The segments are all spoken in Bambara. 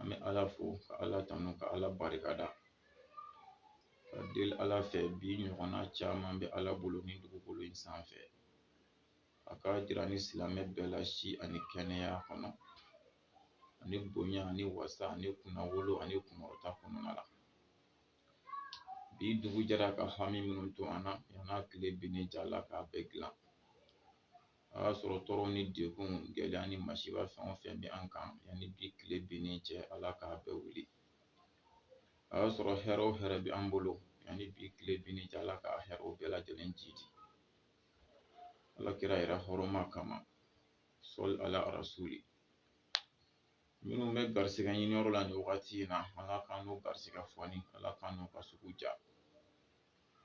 an bɛ ala fo ka ala tanu ka ala barika da ka deli ala fɛ bi ɲɔgɔnna caman bɛ ala bolo nin dugukolo in sanfɛ a k'a jira an ni silamɛ bɛɛ la si ani kɛnɛya kɔnɔ ani bonya ani wasa ani kunnawolo ani kunkɔrɔta kɔnɔna la bi dugu jɛra ka hami minnu to an na yan'a tile binni cɛ ala k'a bɛɛ dilan a y'a sɔrɔ tɔɔrɔ ni degun gɛlɛya ni masiba fɛn o fɛn bɛ an kan yanni bi tile binnen cɛ ala k'a bɛɛ wuli a y'a sɔrɔ hɛrɛ o hɛrɛ bɛ an bolo yanni bi tile binnen cɛ ala k'a hɛrɛw bɛɛ lajɛlen jiidi ala kira yɛrɛ hɔrɔma kama sɔli ala rasuli minnu bɛ garisigɛ ɲini yɔrɔ la nin wagati in na ala k'an n'u garisigɛ fooni ala k'an n'u ka sugu diya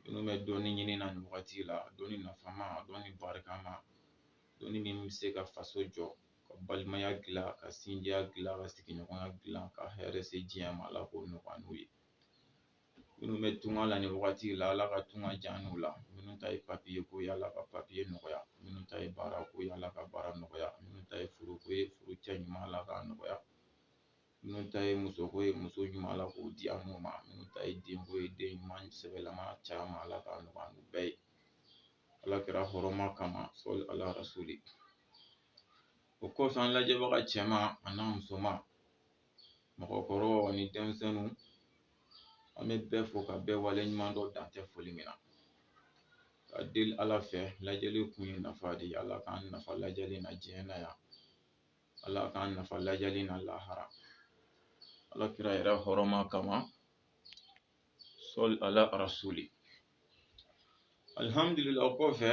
minnu bɛ dɔnni ɲini na nin wagati la dɔnni nafama dɔnni barikama dɔnni min bɛ se ka faso jɔ ka balimaya dilan ka sinjiya dilan ka sigiɲɔgɔnya dilan ka hɛrɛ se diɲɛ ma Ala k'o nɔgɔya an n'u ye minnu bɛ tunga la nin wagati la Ala ka tunga diya an n'u la minnu ta ye papiye ko ye Ala ka papiye nɔgɔya minnu ta ye baara ko ye Ala ka baara nɔgɔya minnu ta ye furu ko ye furu cɛ ɲuman Ala k'a nɔgɔya Minnu ta ye musoko ye muso ɲuman Ala k'o di an n'u ma minnu ta ye denko ye den ɲuman sɛbɛlama caman Ala k'a nɔgɔya an n'u bɛɛ ye Ala kira hɔrɔma kama sɔli Ala rasuli o kɔfɛ an lajɛbaga cɛman an'a musoman mɔgɔkɔrɔw ani denmisɛnninw an bɛ bɛɛ fo ka bɛɛ waleɲumandɔn dan tɛ foli min na ka deli Ala fɛ lajɛli kun ye nafa de ye Ala k'an nafa lajɛli na diɲɛ na yan ala k'an nafa lajɛli na lahara ala kira yɛrɛ hɔrɔma kama sɔli ala rasuli alihamdulila o kɔfɛ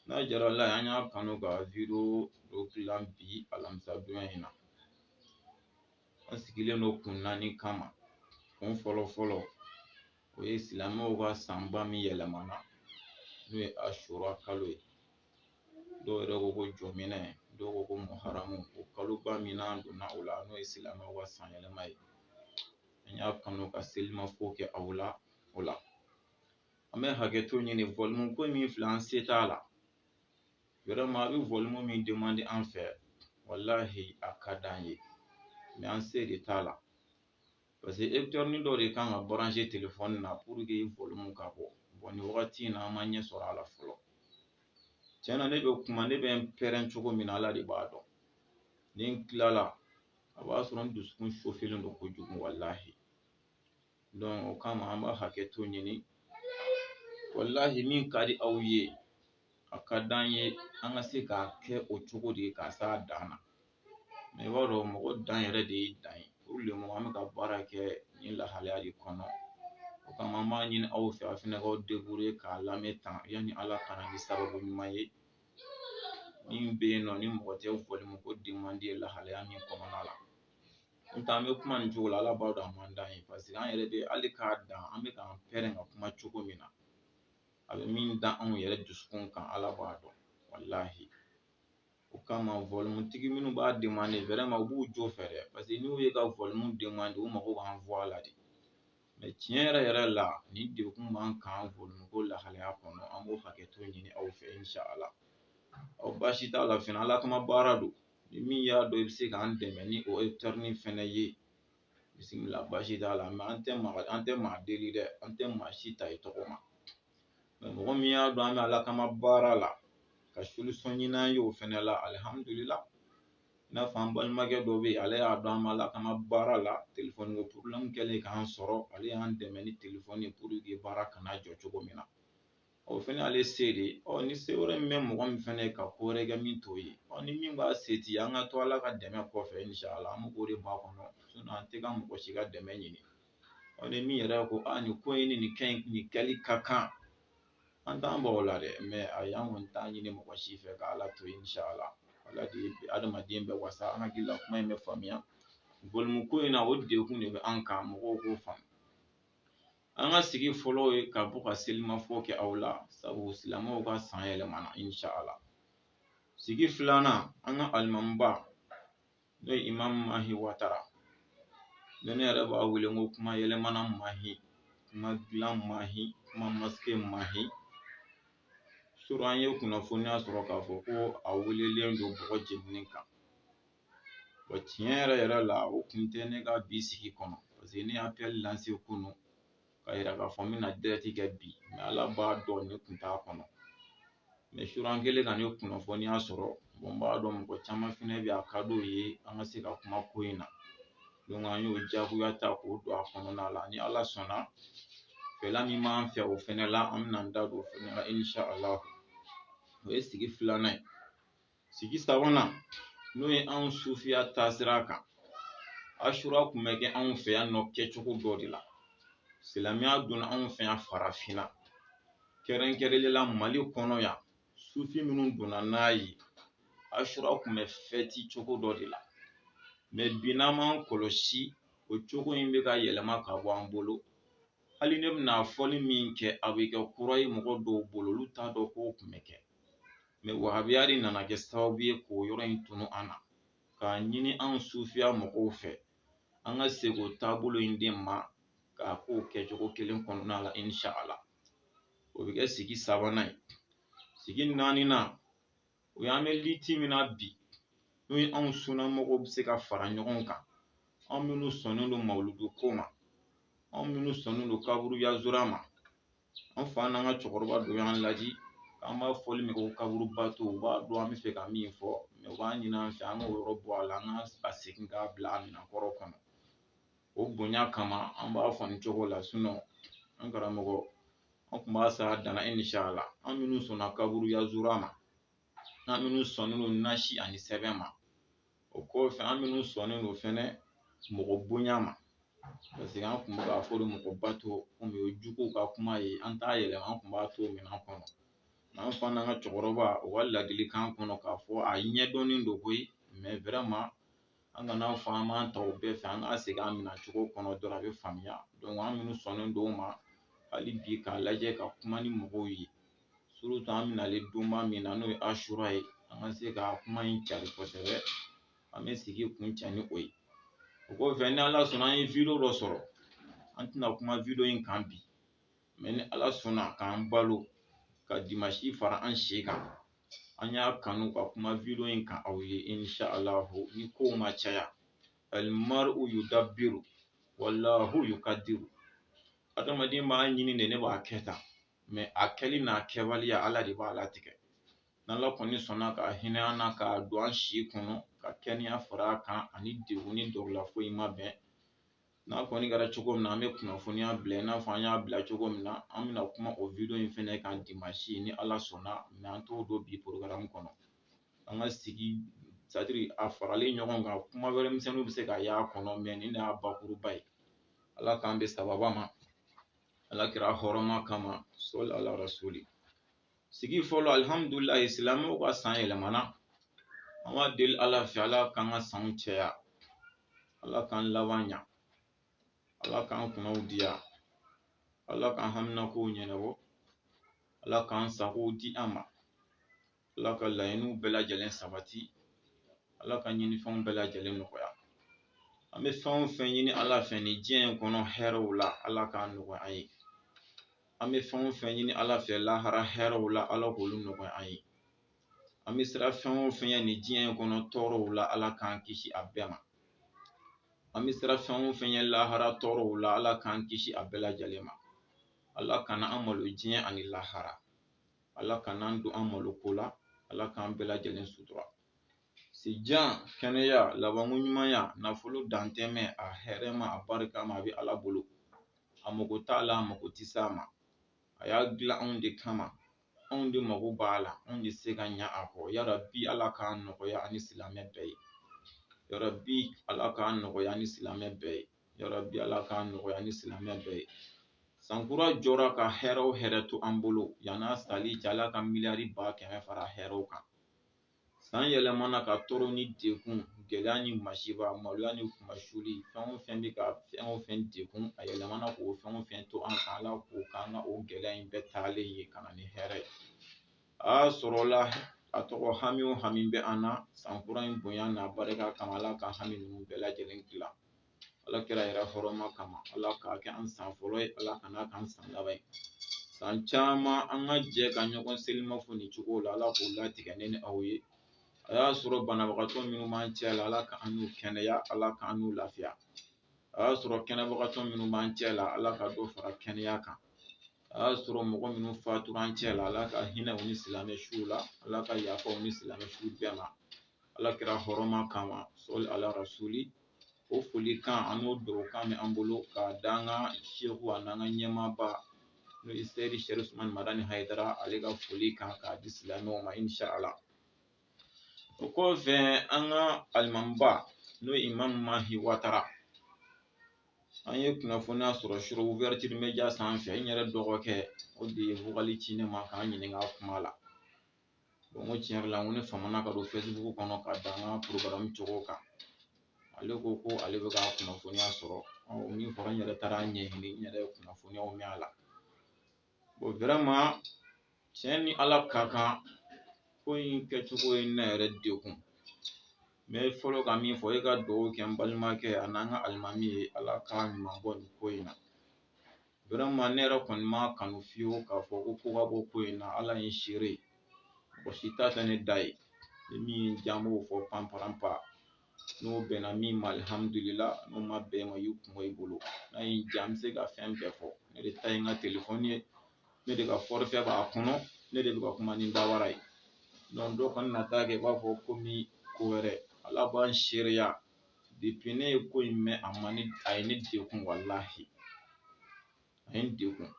n'a diyara ala ye an y'a kanu ka video dɔ dilan bi alamisa donya in na an sigilen don kun naani kama kun fɔlɔ fɔlɔ o ye silamɛw ka sanba min yɛlɛmana n'o ye ashura kalo ye dɔw yɛrɛ ko ko jɔminɛ dɔw ko ko muharamu o kaloba min n'an donna o la n'o ye silamɛw ka san yɛlɛma ye an y'a kanu ka selimafo kɛ aw la o la an bɛ hakɛto ɲini volume ko min filɛ an se t'a la vraiment a bɛ volume min demander an fɛ walahi a ka d'an ye mais an se de t'a la Parce que écouteur nin dɔ de kan ka brancher téléphone na pour que volume ka bɔ bon wagati in na an ma ɲɛ sɔrɔ a la fɔlɔ tiɲɛ na ne bɛ kuma ne bɛ pɛrɛn cogo min na ala de b'a dɔn ni n tilala a b'a sɔrɔ n dusukun chauffélen don kojugu walahi donc o kama an b'a hakɛto ɲini walahi min ka di aw ye a ka di an ye an ka se k'a kɛ o cogo de k'a s'a dan na mɛ i b'a dɔn mɔgɔ dan yɛrɛ de ye dan ye pour le moment an bɛ ka baara kɛ nin lahalaya de kɔnɔ o kama an b'a ɲini aw fɛ aw fɛnɛ k'aw débrouiller k'a lamɛn tan yanni ala ka na ni sababu ɲuman ye min bɛ yen nɔ ni mɔgɔ tɛ vɔlimuko demande lahalaya min kɔnɔna la n'o tɛ an bɛ kuma nin cogo la ala b'a dɔn a man d'an ye parce que an yɛrɛ bɛ hali k'a dan an bɛ k'an pɛrɛn ka kuma cogo min na a bɛ min da anw yɛrɛ dusukun kan ala b'a dɔn walahi O kama vɔlimutigi minnu b'a demande vraiment u b'u jo fɛ dɛ parce que n'u ye ka vɔlimu demande u mago b'an voix la de mɛ tiɲɛ yɛrɛ yɛrɛ la ni degun b'an kan vɔlimuko lahalaya kɔnɔ an b'o hakɛto ɲini aw fɛ insha ala ɔ baasi t'a la fɛnɛ ala kama baara don ni min y'a dɔn i bɛ se k'an dɛmɛ ni o ekutɛrinin fɛnɛ ye bisimila baasi t'a la mɛ an tɛ maa an tɛ maa deli dɛ an tɛ maa si ta i tɔgɔ ma mɔgɔ min y'a dɔn an bɛ ala kama baara la ka solution ɲini an ye o fɛnɛ la alihamudulila i n'a fɔ an balimakɛ dɔ bɛ yen ale y'a dɔn an bɛ ala kama baara la telefɔni ko problème kɛlen k'an sɔrɔ ale y'an dɛmɛ ni telefɔni ye pour que baara kana jɔ cogo min na o fɛnɛ y'ale se de ye ɔ ni se wɛrɛ min bɛ mɔgɔ min fɛnɛ ye ka ko wɛrɛ kɛ min t'o ye ɔ ni min b'a se ti an ka to ala ka dɛmɛ kɔfɛ inshala an b'o de makɔnɔ sinon an tɛ ka mɔgɔ si ka dɛmɛ ɲini ɔ ni min yɛrɛ ko a nin ko in ni nin kɛ nin kɛli ka kan an t'an bɔ o la dɛ mɛ ayi an kɔni t'a ɲini mɔgɔ si fɛ ka ala to inshala ala de ye adamaden bɛɛ wasa an hakili la kuma in bɛ faamuya vɔlimuko in na o degun de bɛ an kan mɔgɔw k'o faamu an ka sigi fɔlɔ ye ka bɔ ka selimafɔ kɛ aw la sabu silamɛw ka san yɛlɛmana insha Allah sigi filanan an ka alimamiba n'o ye Imam Mahi Watara ni ne yɛrɛ b'a wele ko kuma yɛlɛmana Mahi kuma dilan Mahi kuma masike Mahi surɔ an ye kunnafoniya sɔrɔ k'a fɔ ko a welelen don bɔgɔ jeninen kan wa tiɲɛ yɛrɛ yɛrɛ la o kun tɛ ne ka bi sigi kɔnɔ parce que ne ye appel lanse kunu k'a yira k'a fɔ n bɛna direct kɛ bi mɛ Ala b'a dɔn ne kun t'a kɔnɔ mɛ sura an kɛlen ka nin kunnafoniya sɔrɔ n b'a dɔn mɔgɔ caman fɛnɛ bɛ yen a ka d'u ye an ka se ka kuma ko in na donc an y'o jagoya ta k'o don a kɔnɔna la ni Ala sɔnna fɛla min b'an fɛ o fɛnɛ la an bɛna an da don o fɛnɛ la inshala o ye sigi filanan ye sigi sabanan n'o ye anw sufiya taasira kan ashura kun bɛ kɛ anw fɛ yan nɔ kɛcogo dɔ de la silamɛya donna anw fɛ yan farafinna kɛrɛnkɛrɛnnen la mali kɔnɔ yan sufi minnu donna n'a ye ashura kun bɛ fɛti cogo dɔ de la mɛ bi n'an m'an kɔlɔsi o cogo in bɛ ka yɛlɛma ka bɔ an bolo hali ne bɛna fɔli min kɛ a bɛ kɛ kura ye mɔgɔ dɔw bolo olu t'a dɔn k'o kun bɛ kɛ mɛ wahabiya de nana kɛ sababu ye k'o yɔrɔ in tunu an na k'a ɲini anw sufiya mɔgɔw fɛ an ka segin o taabolo in de ma k'a k'o kɛcogo kelen kɔnɔna la insha ala o bɛ kɛ sigi sabanan ye sigi naaninan o y'an bɛ liti min na bi n'o ye anw sunna mɔgɔw bɛ se ka fara ɲɔgɔn kan anw minnu sɔnnen don mawuludu ko ma anw minnu sɔnnen don kaburu yazura ma an fa n'an ka cɛkɔrɔba dɔ y'an laji an b'a fɔli min kɛ ko kaburu bato u b'a dɔn an bɛ fɛ ka min fɔ mɛ u b'a ɲini an fɛ an k'o yɔrɔ bɔ a la an ka segin k'a bila a minɛn kɔrɔ kɔnɔ o bonya kama an b'a fɔ nin cogo la sinɔn an karamɔgɔ an tun b'a s'a dan na insha ala an minnu sɔnna kaburu yazura ma an minnu sɔnnen don nasi ani sɛbɛn ma o kɔfɛ an minnu sɔnnen don fɛnɛ mɔgɔ bonya ma paseke an kun bɛ k'a fɔ de mɔgɔ bato komi o ye juguw ka kuma ye an t'a yɛlɛma an kun b'a to minɛn kɔnɔ an fa n'an ka cɛkɔrɔba u ka ladilikan kɔnɔ k'a fɔ a ɲɛdɔnnen don koyi mɛ vraiment an kan'a fɔ an b'an ta o bɛɛ fɛ an ka segin an minɛcogo kɔnɔ dɔrɔn a bɛ faamuya dɔnki an minnu sɔnnen don o ma hali bi k'a lajɛ ka kuma ni mɔgɔw ye surutu an bɛ nalen donba min na n'o ye asura ye an ka se ka kuma in cari kosɛbɛ an bɛ sigi kuncɛ ni o ye o kɔfɛ ni ala sɔnna an ye wideyo dɔ sɔrɔ an tɛna kuma wideyo in kan bi mɛ ni ala sɔnna k'an balo ka dimasi fara an si kan an y'a kanu ka kuma wideyo in kan aw ye insha alahu ni kow ma caya alimaru yudabiru walahu yukadiru adamaden b'a ɲini de ne b'a kɛ tan mɛ a kɛli n'a kɛbaliya ala de b'a latigɛ n'ala kɔni sɔnna ka hinɛ an na k'a don an si kɔnɔ ka kɛnɛya fara a kan ani degun ni dɔgɔla foyi ma bɛn n'a kɔni kɛra cogo min na an bɛ kunnafoniya bila i n'a fɔ an y'a bila cogo min na an bɛna kuma o video in fɛnɛ kan dimasi ni ala sɔnna mɛ an t'o don bi porogaramu kɔnɔ an ka sigi sɛtadiri a faralen ɲɔgɔn kan kuma wɛrɛ misɛnninw bɛ se ka y'a kɔnɔ mɛ nin de y'a bakuruba ye ala k'an bɛn sababa ma ala kira hɔrɔma kama sɔli ala rasuli sigi fɔlɔ alihamudulilayi silamɛw ka san yɛlɛmana an b'a deli ala fɛ ala k'an ka sanw cɛya ala k'an laban ɲa ala k'an kunnaw diya ala k'an haminakow ɲɛnabɔ ala k'an sagow di an ma ala ka laɲiniw bɛɛ lajɛlen sabati ala ka ɲinifɛnw bɛɛ lajɛlen nɔgɔya an bɛ fɛn o fɛn ɲini ala fɛ nin diɲɛ in kɔnɔ hɛrɛw la ala k'a nɔgɔya an ye an bɛ fɛn o fɛn ɲini ala fɛ lahara hɛrɛw la ala k'olu nɔgɔya an ye an bɛ siran fɛn o fɛn ye nin diɲɛ in kɔnɔ tɔɔrɔw la ala k'an kisi a bɛɛ ma an bɛ siran fɛn o fɛn ye lahara tɔɔrɔw la ala k'an kisi a bɛɛ lajɛlen ma ala kana an malo diɲɛ ani lahara ala kana an don an malo ko la ala k'an bɛɛ lajɛlen sutura sijan kɛnɛya labanko ɲumanya nafolo dantɛmɛ a hɛrɛma a barikama a bɛ ala bolo a mago t'a la a mago tɛ s'a ma a y'a dilan anw de kama anw de mago b'a la anw de se ka ɲa a kɔ yarabi ala k'a nɔgɔya ani silamɛ bɛɛ ye yarabi ala k'a nɔgɔya ni silamɛ bɛɛ ye yarabi Ala k'a nɔgɔya ni silamɛ bɛɛ ye sankura jɔra ka hɛrɛ o hɛrɛ to an bolo yan'a sali cɛ Ala ka miliyari ba kɛmɛ fara hɛrɛw kan san yɛlɛmana ka tɔɔrɔ ni dekun gɛlɛya ni masiba maloya ni kunmasuuli fɛn o fɛn bɛ ka fɛn o fɛn dekun a yɛlɛmana k'o fɛn o fɛn to an kan Ala k'o k'an ka o gɛlɛya in bɛɛ taalen ye ka na ni hɛrɛ ye a sɔrɔla a tɔgɔ hami o hami bɛ an na san kura in bonya n'a barika kama Ala ka hami ninnu bɛɛ lajɛlen dilan ala kira yɛrɛ hɔrɔma kama ala k'a kɛ an san fɔlɔ ye ala kana k'an san laban ye san caman an ka jɛ ka ɲɔgɔn selimafo nin cogo la ala k'o latigɛ ne ni aw ye a y'a sɔrɔ banabagatɔ minnu b'an cɛ la ala k'an n'u kɛnɛya ala k'an n'u lafiya a y'a sɔrɔ kɛnɛbagatɔ minnu b'an cɛ la ala ka dɔ fara kɛnɛya kan a y'a sɔrɔ mɔgɔ minnu fatura an cɛ la ala ka hinɛ u ni silamɛ suw la ala ka yafa u ni silamɛ suw bɛɛ ma ala kira hɔrɔma kama sɔli ala rasuli o foli kan an n'o dugawu kan bɛ an bolo k'a da an ka seku ani an ka ɲɛmaaba n'o ye seyidi sɛrifu usumani madani hayidara ale ka foli kan k'a di silamɛw ma inshallah o kɔfɛ an ka alimamiba n'o ye imamu mahi watara an ye kunnafoniya sɔrɔ sur ouverture media sanfɛ n yɛrɛ dɔgɔkɛ o de ye vokali ci ne ma ka n ɲininka kuma la n ko tiɲɛ yɛrɛ la n ko ne famana ka don facebook kɔnɔ k'a da n ka programme cogo kan ale ko ko ale bɛ ka kunnafoniya sɔrɔ min fɔra n yɛrɛ taara ɲɛɲini n yɛrɛ ye kunnafoniyaw mɛn a la bon vraiment tiɲɛ ni ala ka kan ko in kɛcogo ye ne yɛrɛ degun n bɛ fɔlɔ ka min fɔ e ka dugawu kɛ n balimakɛ ani an ka alimami ye ala ka ɲuman bɔ nin ko in na vraiment ne yɛrɛ kɔni m'a kanu fiyewu k'a fɔ ko ko ka bɔ ko in na ala ye n seere ye mɔgɔ si ta tɛ ne da ye ni min ye n diya n b'o fɔ panparanpa n'o bɛnna min ma alihamudulila n'o ma bɛn ma y'i kunbɔ i bolo n'a ye n diya n bɛ se ka fɛn bɛɛ fɔ ne de ta ye n ka telefɔni ye ne de ka forfait b'a kɔnɔ ne de bɛ ka kuma ni dawara ye dɔw kana na taa kɛ i b'a fɔ komi ko wɛrɛ ala b'an seereya depuis ne ye ko in mɛn a ma ne a ye ne degun walahi a ye n degun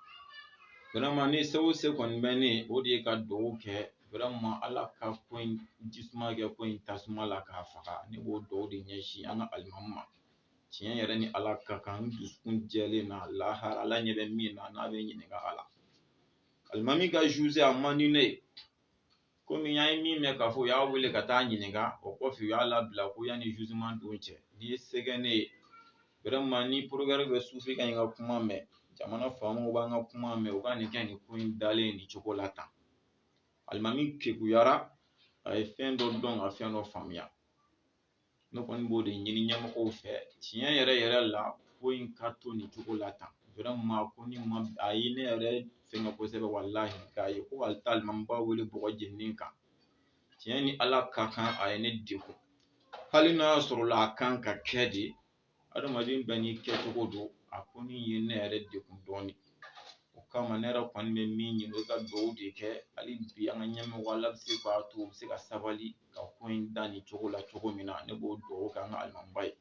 vraiment ni se o se kɔni bɛ ne o de ye ka dugawu kɛ vraiment ala ka ko in jisuma kɛ ko in tasuma la k'a faga ne b'o dugawu de ɲɛsin an ka alimami ma tiɲɛ yɛrɛ ni ala ka kan n dusukun jɛlen na lahara ala ɲɛ bɛ min na n'a bɛ ɲininka a la alimami ka juger a man di ne ye kɔmi an ye min mɛn k'a fɔ u y'a wele ka taa ɲininka o kɔfɛ u y'a labila ko yanni jugement don cɛ n'i ye se kɛ ne ye vraiment ni procureur bɛ sufi ka ɲi ka kuma mɛn jamana faamaw b'an ka kuma mɛn u ka nin kɛ nin ko in dalen nin cogo la tan alimami kekuyara a ye fɛn dɔ dɔn ka fɛn dɔ faamuya ne kɔni b'o de ɲini ɲɛmɔgɔw fɛ tiɲɛ yɛrɛ yɛrɛ la ko in ka to nin cogo la tan vraiment ko nin ma a ye ne yɛrɛ fɛnkɛ kosɛbɛ walahi k'a ye ko hali taa alimamiba wele bɔgɔ jeninen kan tiɲɛ ni ala ka kan a ye ne degun hali n'a y'a sɔrɔ la a kan ka kɛ de adamaden bɛɛ n'i kɛcogo don a ko nin ye ne yɛrɛ degun dɔɔnin o kama ne yɛrɛ kɔni bɛ min ɲini ka dugawu de kɛ hali bi an ka ɲɛmɔgɔ ala bɛ se k'a to u bɛ se ka sabali ka ko in da nin cogo la cogo min na ne b'o dugawu kɛ an ka alimamiba ye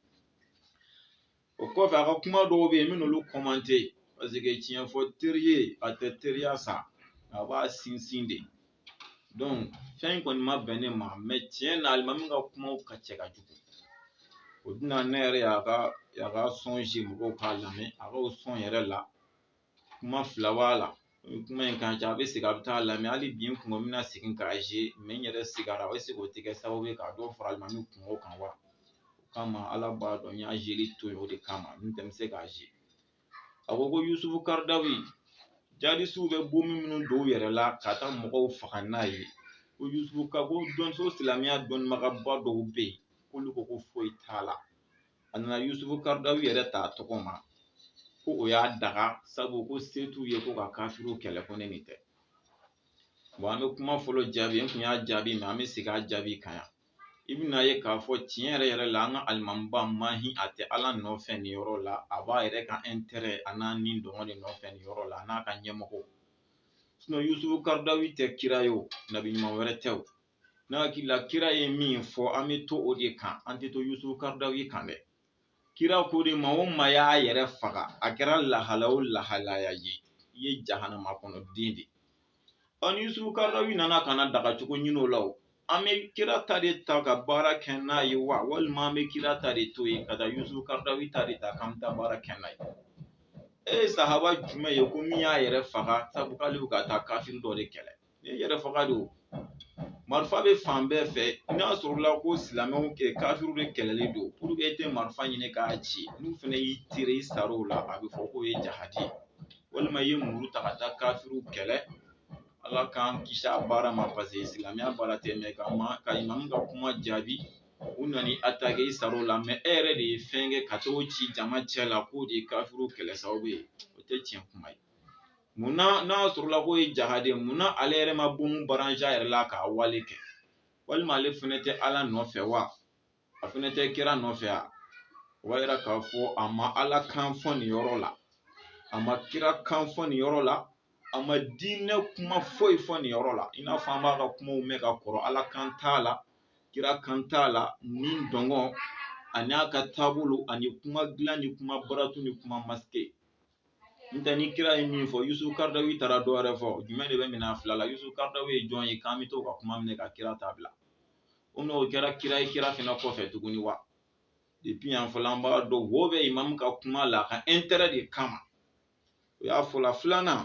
o kɔfɛ a ka kuma dɔw bɛ yen n bɛn'olu commenter parce que tiɲɛ fɔ teri ye a tɛ teriya sa a b'a sinsin de fɛn in kɔni ma bɛn ne ma mais tiɲɛ na alimami ka kumaw ka cɛ ka jugu o de la ne yɛrɛ y'a ka son jouer mɔgɔw k'a lamɛn a ka son yɛrɛ la kuma fila b'a la kuma in kan a bɛ segin a bɛ taa lamɛn hali bi n kun bɛna segin k'a ye mais n yɛrɛ sigara a bɛ se k'o tɛ kɛ sababu ye ka dɔ fara alimami kunko kan wa o kama ala b'a dɔn n y'a yeli to yen o de kama n tɛ se k'a ye a ko ko yusufu karadawi jihadisiw bɛ bɔnbu minnu don u yɛrɛ la ka taa mɔgɔw faga n'a ye ko yusufu ka ko dɔnso silamɛya dɔnnibagaba dɔw bɛ yen k'olu ko ko foyi t'a la a nana yusufu karadawi yɛrɛ ta tɔgɔ ma ko o y'a daga sabu ko se t'u ye ko ka kafiriw kɛlɛ ko ne nin tɛ bon an bɛ kuma fɔlɔ jaabi n kun y'a jaabi mais an bɛ segin a jaabi kan yan i bɛna ye k'a fɔ tiɲɛ yɛrɛ yɛrɛ la an ka alimamiba mahi a tɛ ala nɔfɛ nin yɔrɔ la a b'a yɛrɛ ka intérêt a n'a nidungɔ de nɔfɛ nin yɔrɔ la a n'a ka ɲɛmɔgɔw sinon yusufu karadawi tɛ kira ye o nabi ɲuman wɛrɛ tɛ o ne hakili la kira ye min fɔ an bɛ to o de kan an tɛ to yusufu karadawi kan dɛ kira ko de maa o maa y'a yɛrɛ faga a kɛra lahala o lahalaya ye i ye jahanama kɔnɔ den de ɔ ni yusufu karadawi nana ka na dagacogo ɲini o la o an bɛ kira ta de ta ka baara kɛ n'a ye wa walima an bɛ kira ta de to yen ka taa yusufu karadawi ta de ta k'an bɛ taa baara kɛ n'a ye e ye sahaba jumɛn ye ko min y'a yɛrɛ faga sabu k'ale bɛ ka taa kafiri dɔ de kɛlɛ ni yɛrɛ faga don marifa bɛ fan bɛɛ fɛ n'a sɔrɔla ko silamɛw ka kafiriw de kɛlɛli don puruke e tɛ marifa ɲini k'a ci n'u fana y'i tire i sar'o la a bɛ fɔ k'o ye jahadi ye walima i ye muru ta ka taa kafiriw kɛlɛ ala k'an kisi a baara ma paseke silamɛya baara tɛ n bɛ ka imamu ka kuma jaabi u nan'i atake i sar'o la mɛ e yɛrɛ de ye fɛn kɛ ka t'o ci jama cɛ la k'o de ye kafiriw kɛlɛ sababu ye o tɛ tiɲɛ kuma ye Munna n'a sɔrɔla k'o ye jahadi ye munna ale yɛrɛ ma bɔnbu barans'a yɛrɛ la k'a wale kɛ walima ale fana tɛ ala nɔfɛ wa a fana tɛ kira nɔfɛ a o b'a jira k'a fɔ a ma ala kan fɔ nin yɔrɔ la a ma kira kan fɔ nin yɔrɔ la a ma diinɛ kuma foyi fɔ nin yɔrɔ la i n'a fɔ an b'a ka kumaw mɛn ka kɔrɔ ala kan t'a la kira kan t'a la ni dungɔ ani a ka taabolo ani kuma dilan ni kuma baratu ni kuma maske n tɛ ni kira ye min fɔ Yusu Karadawi taara dɔ wɛrɛ fɔ jumɛn de bɛ minɛ a fila la Yusu Karadawi ye jɔn ye k'an bɛ t'o ka kuma minɛ ka kira ta bila o n'o kɛra kira ye kira fana kɔfɛ tuguni wa depuis yan fɔlɔ an b'a dɔn wo bɛ imamu ka kuma la a ka intérêt de kama o y'a fɔla filanan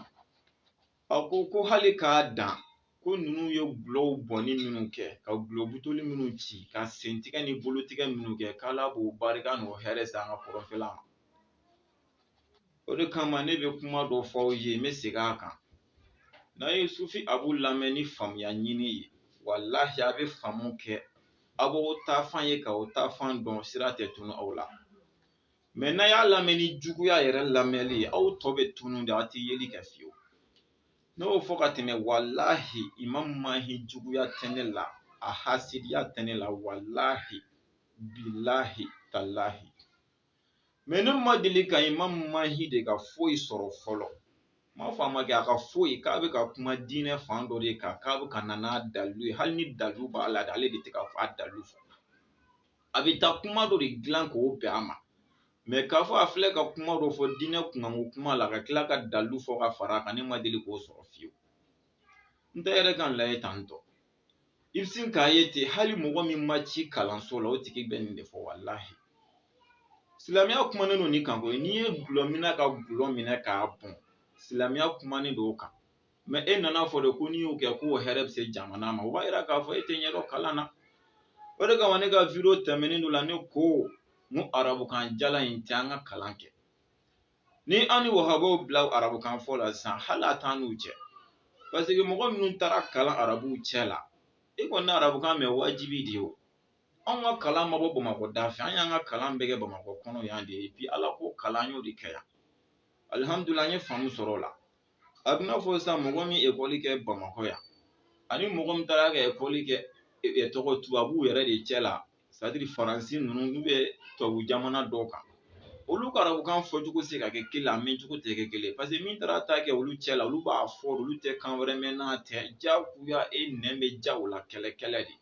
A ko ko hali k'a dan ko ninnu ye gulɔw bɔnni minnu kɛ ka gulɔ butoli minnu ci ka sentigɛ ni bolotigɛ minnu kɛ k'Ala b'o barika n'o hɛrɛ se an ka kɔrɔnfɛla ma o de kama ne bɛ kuma dɔ fɔ aw ye n bɛ segin a kan n'a ye sufi abu lamɛn ni faamuya ɲini ye walahi a bɛ faamu kɛ a b'o taafan ye ka o taafan dɔn sira tɛ tunu aw la mɛ n'a y'a lamɛn ni juguya yɛrɛ lamɛnli ye aw tɔ bɛ tunu de aw tɛ yeli kɛ fiyewu ne y'o fɔ ka tɛmɛ walahi imam mahi juguya tɛ ne la a hasidiya tɛ ne la walahi bilahi talahi mɛ ne ma deli ka imam mahi de ka foyi sɔrɔ fɔlɔ n m'a fɔ a ma kɛ a ka foyi k'a bɛ ka kuma diinɛ fan dɔ de kan k'a bɛ ka na n'a dalilu ye hali ni dalilu b'a la ale de tɛ ka fɔ a dalilu fɔ a bɛ taa kuma dɔ de dilan k'o bɛn a ma mɛ k'a fɔ a filɛ ka kuma dɔ fɔ diinɛ kunkanko kuma la ka tila ka dalu fɔ ka fara a kan ne ma deli k'o sɔrɔ fiyewu n tɛ yɛrɛ k'a lajɛ tan tɔ i bɛ sin k'a ye ten hali mɔgɔ min ma ci kalanso la o tigi bɛ nin de fɔ walahi silamɛya kumanen don nin kan koyi n'i ye gulɔ minɛ ka gulɔ minɛ k'a bɔn silamɛya kumanen don o kan mɛ e nana fɔ de ko n'i y'o kɛ k'o hɛrɛ bɛ se jamana ma o b'a jira k'a fɔ e tɛ ɲɛdɔn kalan na o de kama ne ka video tɛmɛnen dɔ la ne ko n ko arabukan jalan in tɛ an ka kalan kɛ n'i y'an ni wahabaw bila arabukan fɔ la sisan hali a t'an n'u cɛ parce que mɔgɔ minnu taara kalan arabuw cɛ la e kɔni arabukan mɛn wajibi de ye o anw ka kalan ma bɔ bamakɔ da fɛ an y'an ka kalan bɛɛ kɛ bamakɔ kɔnɔ yan de ye bi ala ko kalan y'o de kɛ yan alihamudulila an ye faamu sɔrɔ o la a bɛna fɔ sisan mɔgɔ min ekɔli kɛ bamakɔ yan ani mɔgɔ min taara ka ekɔli kɛ e, e, tɔgɔ tubabuw yɛrɛ de cɛ la c'est-à-dire faransi ninnu n'u bɛ tubabu jamana dɔw kan olu ka arabukan fɔcogo se ka kɛ kelen a mɛncogo tɛ kɛ kelen parce que min taara t'a kɛ olu cɛ la olu b'a fɔ olu tɛ kan wɛrɛ mɛn n'a tɛ jagoya e nɛn bɛ ja o la kɛlɛ kɛlɛ de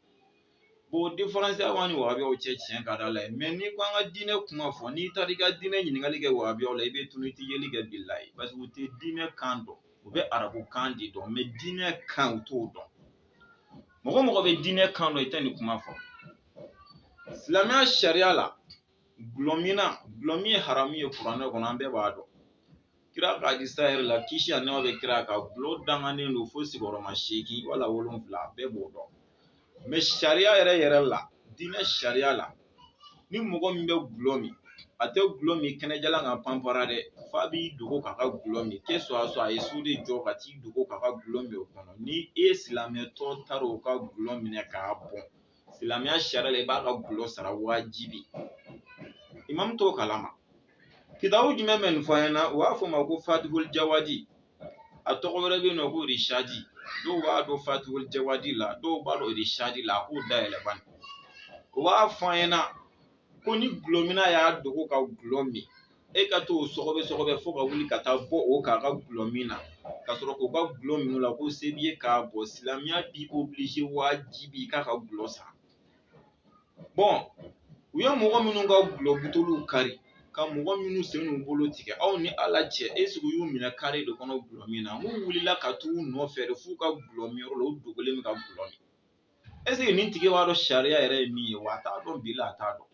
bon différence b'an ni wahabiyaw cɛ tiɲɛ ka di ala ye mais n'i ko an ka diinɛ kuma fɔ n'i taara i ka diinɛ ɲininkali kɛ wahabiyaw la i bɛ tunu i tɛ yeli kɛ bilahi parce que u tɛ diinɛ kan dɔn u bɛ arabukan de dɔn mais diinɛ kan u t'o dɔn mɔgɔ mɔgɔ bɛ diinɛ kan dɔn i tɛ nin kuma fɔ silamɛya sariya la gulɔmina gulɔmin ye haramu ye kuranɛ kɔnɔ an bɛɛ b'a dɔn kira ka hadisa yɛrɛ la kisi ani nɛɛma bɛ kira kan gulɔ danganen don fo sigiyɔrɔma seegin wala wolonwula bɛɛ b'o dɔn mais sariya yɛrɛ yɛrɛ la diinɛ sariya la ni mɔgɔ min bɛ gulɔ min a tɛ gulɔ min kɛnɛjalan kan panpara dɛ f'a b'i dogo k'a ka gulɔ min kɛ soit a soit a ye so de jɔ ka t'i dogo k'a ka gulɔ min o kɔnɔ ni e silamɛtɔ taara o ka gulɔ minɛ k'a bɔn silamɛya sariya la i b'a ka gulɔ sara wajibi imamu t'o kalama kitabu jumɛn bɛ nin fɔ an ɲɛna u b'a fɔ o ma ko fatihul jawadi a tɔgɔ wɛrɛ bɛ yen nɔ ko rishadi dɔw b'a dɔn fatihul jawadi la dɔw b'a dɔn rishadi la a k'o dayɛlɛ bani u b'a fɔ an ɲɛna ko ni gulɔmina y'a dogo ka gulɔ min e ka t'o sɔgɔbɛ sɔgɔbɛ fo ka wuli ka taa bɔ o kan a ka gulɔ min na ka sɔrɔ k'o ka gulɔ minɛ o la ko se b'i ye k'a bɔn silamɛya b'i oblige wajibi i k'a ka gulɔ san bon u ye mɔgɔ minnu ka gulɔ buteliw kari ka mɔgɔ minnu sen n'u bolo tigɛ aw ni ala cɛ est-ce que u y'u minɛ kare de kɔnɔ gulɔ min na n'u wulila ka t'u nɔfɛ de f'u ka gulɔ min yɔrɔ la u dogolen bɛ ka gulɔ min est-ce que nin tigi b'a dɔn sariya yɛrɛ ye min ye wa a t'a dɔn bilahi a t'a dɔn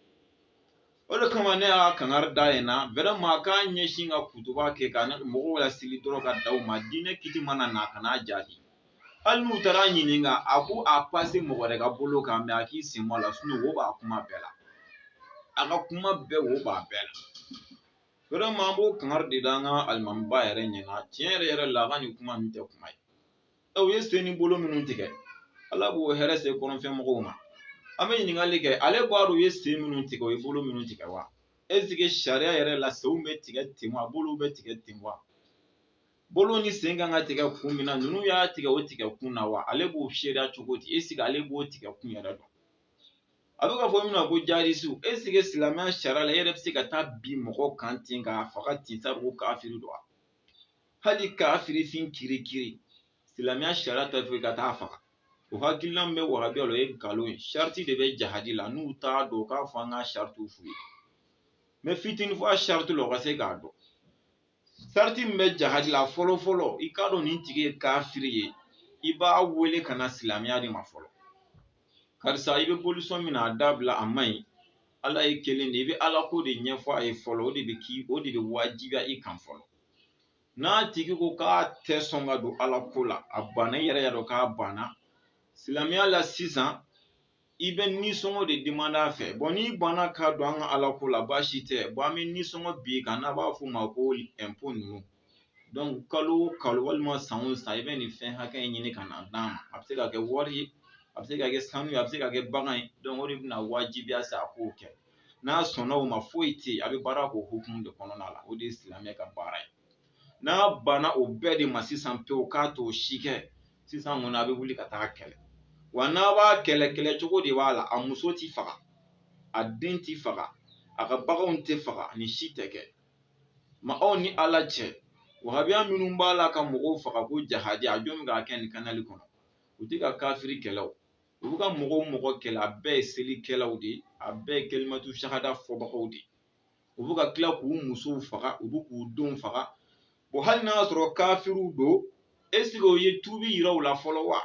o de kama ne y'a kangari da yen na vraiment k'a ɲɛsin ka kutuba kɛ ka mɔgɔw laseli dɔrɔn ka dan o ma diinɛ kiti mana na a kan'a jaabi hali n'u taara a ɲininka a k'a passer mɔgɔ wɛrɛ ka bolo kan mais a k'i sen bɔ a la sinon wo b'a kuma bɛɛ la a ka kuma bɛɛ wo b'a bɛɛ la vraiment an b'o kangari de da an ka alimamiba yɛrɛ ɲɛna tiɲɛ yɛrɛ yɛrɛ la a ka nin kuma nin tɛ kuma ye u ye sen ni bolo minnu tigɛ ala b'o hɛrɛ se kɔrɔnfɛ mɔgɔw ma an bɛ ɲininkali kɛ ale b'a dɔn u ye sen minnu tigɛ u ye bolo minnu tigɛ wa est-ce que sariya yɛrɛ la senw bɛ tigɛ ten wa bolow bɛ tigɛ ten wa bolo ni sen kan ka tigɛ kun min na ninnu y'a tigɛ o tigɛ kun na wa ale b'o seereya cogo di est-ce que ale b'o tigɛ kun yɛrɛ dɔn a bɛ ka fɔ min na ko jihadisiw est-ce que silamɛya sariya la e yɛrɛ bɛ se ka taa bin mɔgɔ kan ten k'a faga ten sabu kafiri don wa hali kafirifin kirikiri silamɛya sariya t'a fɔ i ka taa faga o hakilina min bɛ wahabiya la o ye nkalon ye sariti de bɛ jahadi la n'u t'a dɔn k'a fɔ an ka saritiw f'u ye mɛ fitinin fɔ a sariti la o ka se k'a dɔn sariti min bɛ jahadi la fɔlɔ fɔlɔ i k'a dɔn nin tigi ye kafiri ye i b'a wele ka na silamɛya de ma fɔlɔ karisa i bɛ bolisɔn min na a dabila a man ɲi ala ye kelen de i bɛ ala ko de ɲɛfɔ a ye fɔlɔ o de bɛ k'i o de bɛ wajibiya i kan fɔlɔ n'a tigi ko k'a tɛ sɔn ka don ala ko la a banna i yɛrɛ y'a dɔn k'a banna silamɛya la sisan i bɛ nisɔngɔ de demande a fɛ bɔn n'i banna ka don an ka ala ko la baasi tɛ bɔn an bɛ nisɔngɔ bin i kan n'a b'a fɔ o ma ko ɛnpo ninnu dɔnku kalo o kalo walima san o san i bɛ nin fɛn hakɛ in ɲini ka na d'an ma a bɛ se ka kɛ wari ye a bɛ se ka kɛ sanu ye a bɛ se ka kɛ bagan ye dɔnku o de bɛna wajibiya sa a k'o kɛ n'a sɔnna o ma foyi tɛ yen a bɛ baara k'o hukumu de kɔnɔna la o de ye silamɛ ka baara ye n'a banna o bɛɛ de ma sisan pewu k'a t'o si kɛ sisan kɔni a bɛ wuli ka taa kɛlɛ wa n'a b'a kɛlɛ kɛlɛ cogo de b'a la a muso tɛ faga a den tɛ faga a ka baganw tɛ faga nin si tɛ kɛ ma aw ni ala cɛ wahabiya minnu b'a la ka mɔgɔw faga ko jahadi a jɔn bɛ k'a kɛ nin kanali kɔnɔ u tɛ ka kafiri kɛlɛ o u bɛ ka mɔgɔ o mɔgɔ kɛlɛ a bɛɛ ye selikɛlaw de ye a bɛɛ ye kelimatu shahada fɔbagaw de ye u bɛ ka tila k'u musow faga u bɛ k'u denw faga bon hali n'a y'a sɔrɔ kafiriw don esike o ye tubi yira u la fɔlɔ wa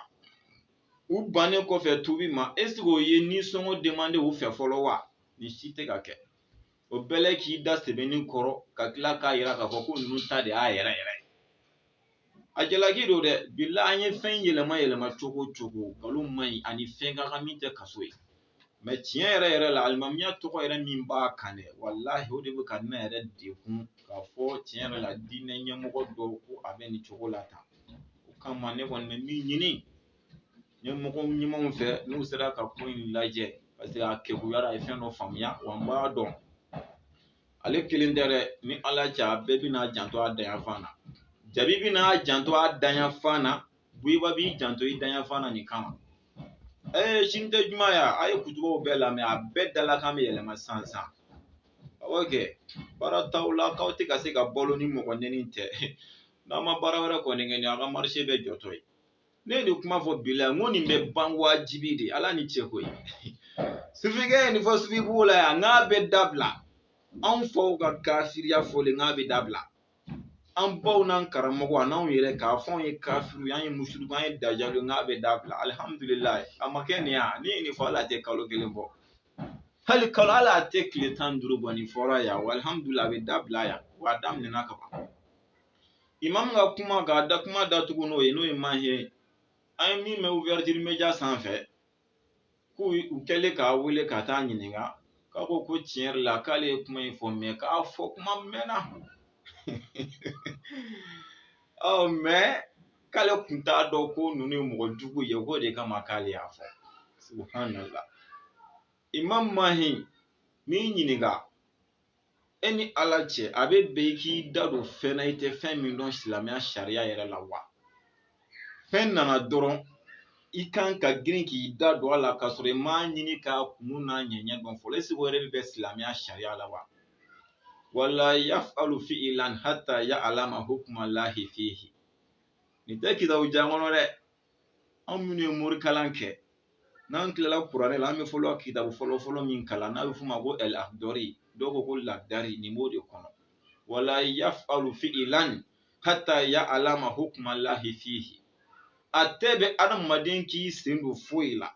u bannen kɔfɛ tubi ma esike o ye nisɔngɔ demande u fɛ fɔlɔ wa nin si tɛ ka kɛ o bɛɛ la k'i da sɛbɛnni kɔrɔ ka tila k'a yira k'a fɔ ko ninnu ta de y'a yɛrɛ yɛrɛ a jalaki don dɛ bila an ye fɛn yɛlɛma yɛlɛma cogo o cogo nkalon man ɲi a ni fɛn ka kan min tɛ kaso ye mɛ tiɲɛ yɛrɛ yɛrɛ la alimamiya tɔgɔ yɛrɛ min b'a kan dɛ walahi o de bɛ ka ne yɛrɛ degun k'a fɔ tiɲɛ yɛrɛ la diinɛ ɲɛmɔgɔ dɔw ko a bɛ nin cogo la tan o kama ne kɔni bɛ min ɲini ɲɛmɔgɔ ɲumanw fɛ n'u sera ka ko in lajɛ parce que a kekuyara a ye fɛn dɔ faamuya wa n b'a dɔn ale kelen tɛ dɛ ni ala cɛ a bɛɛ bɛn'a janto a dayanfan na jabi bɛn'a janto a dayanfan na buyiba b'i janto i dayanfan na nin kama ɛɛ sini tɛ juma ya a ye kutubaw bɛɛ lamɛn a bɛɛ dalakan bɛ yɛlɛma sisan awɔ kɛ baara t'aw la k'aw tɛ ka se ka balo ni mɔgɔ nɛni tɛ n'a ma baara wɛrɛ kɔni kɛ ni a ka marise bɛɛ jɔtɔ ye ne ye nin kuma fɔ bi la n ko nin bɛ ban wajibi de ala ni cɛ koyi sufikɛ ye nin fɔ sufibugu la yan n'a bɛ dabila anw faw ka kafiriya fɔlen n'a bɛ dabila an baw n'an karamɔgɔw n'anw yɛrɛ k'a fɔ anw ye kafiriw ye an ye musuluku an ye dajaliw n'a bɛ dabila alihamudulilayi a ma kɛ nin yan ne ye nin fɔ ala tɛ kalo kelen bɔ hali kalo ala tɛ tile tan ni duuru bɔ nin fɔra yan wa alihamudulilayi a bɛ dabila yan wa a daminɛna ka ban imam ka kuma k'a da kuma datugu n'o ye n'o ye mahi ye an ye min mɛn ouverture media sanfɛ k'u u kɛlen k'a wele ka taa ɲininka k'a ko ko tiɲɛ yɛrɛ la k'ale ye kuma in fɔ mɛ k'a fɔ kuma mɛnna ɔ mɛ k'ale kun t'a dɔn ko ninnu ye mɔgɔ jugu ye k'o de kama k'ale y'a fɔ subhanallah imam mahi n'i ɲininka e ni ala cɛ a bɛ bɛn i k'i da don fɛn na i tɛ fɛn min dɔn silamɛya sariya yɛrɛ la wa fɛn nana dɔrɔn i kan ka girin k'i da don a la k'a sɔrɔ i m'a ɲini k'a kun n'a ɲɛɲɛ dɔn fɔlɔ est-ce que o yɛrɛ bɛ bɛn silamɛya sariya la wa wala yafalu fi'ilan hatta ya alama hukuma lahi fihi nin tɛ kitabu jan kɔnɔ dɛ an minnu ye morikalan kɛ n'an tilala kuranɛ la an bɛ fɔlɔ kitabu fɔlɔ fɔlɔ min kalan n'a bɛ f'o ma ko al-akhdari dɔw ko ko lakdari nin b'o de kɔnɔ wala yafalu fi'ilan hatta ya alama hukuma lahi fihi a tɛ bɛn adamaden k'i sen don foyi la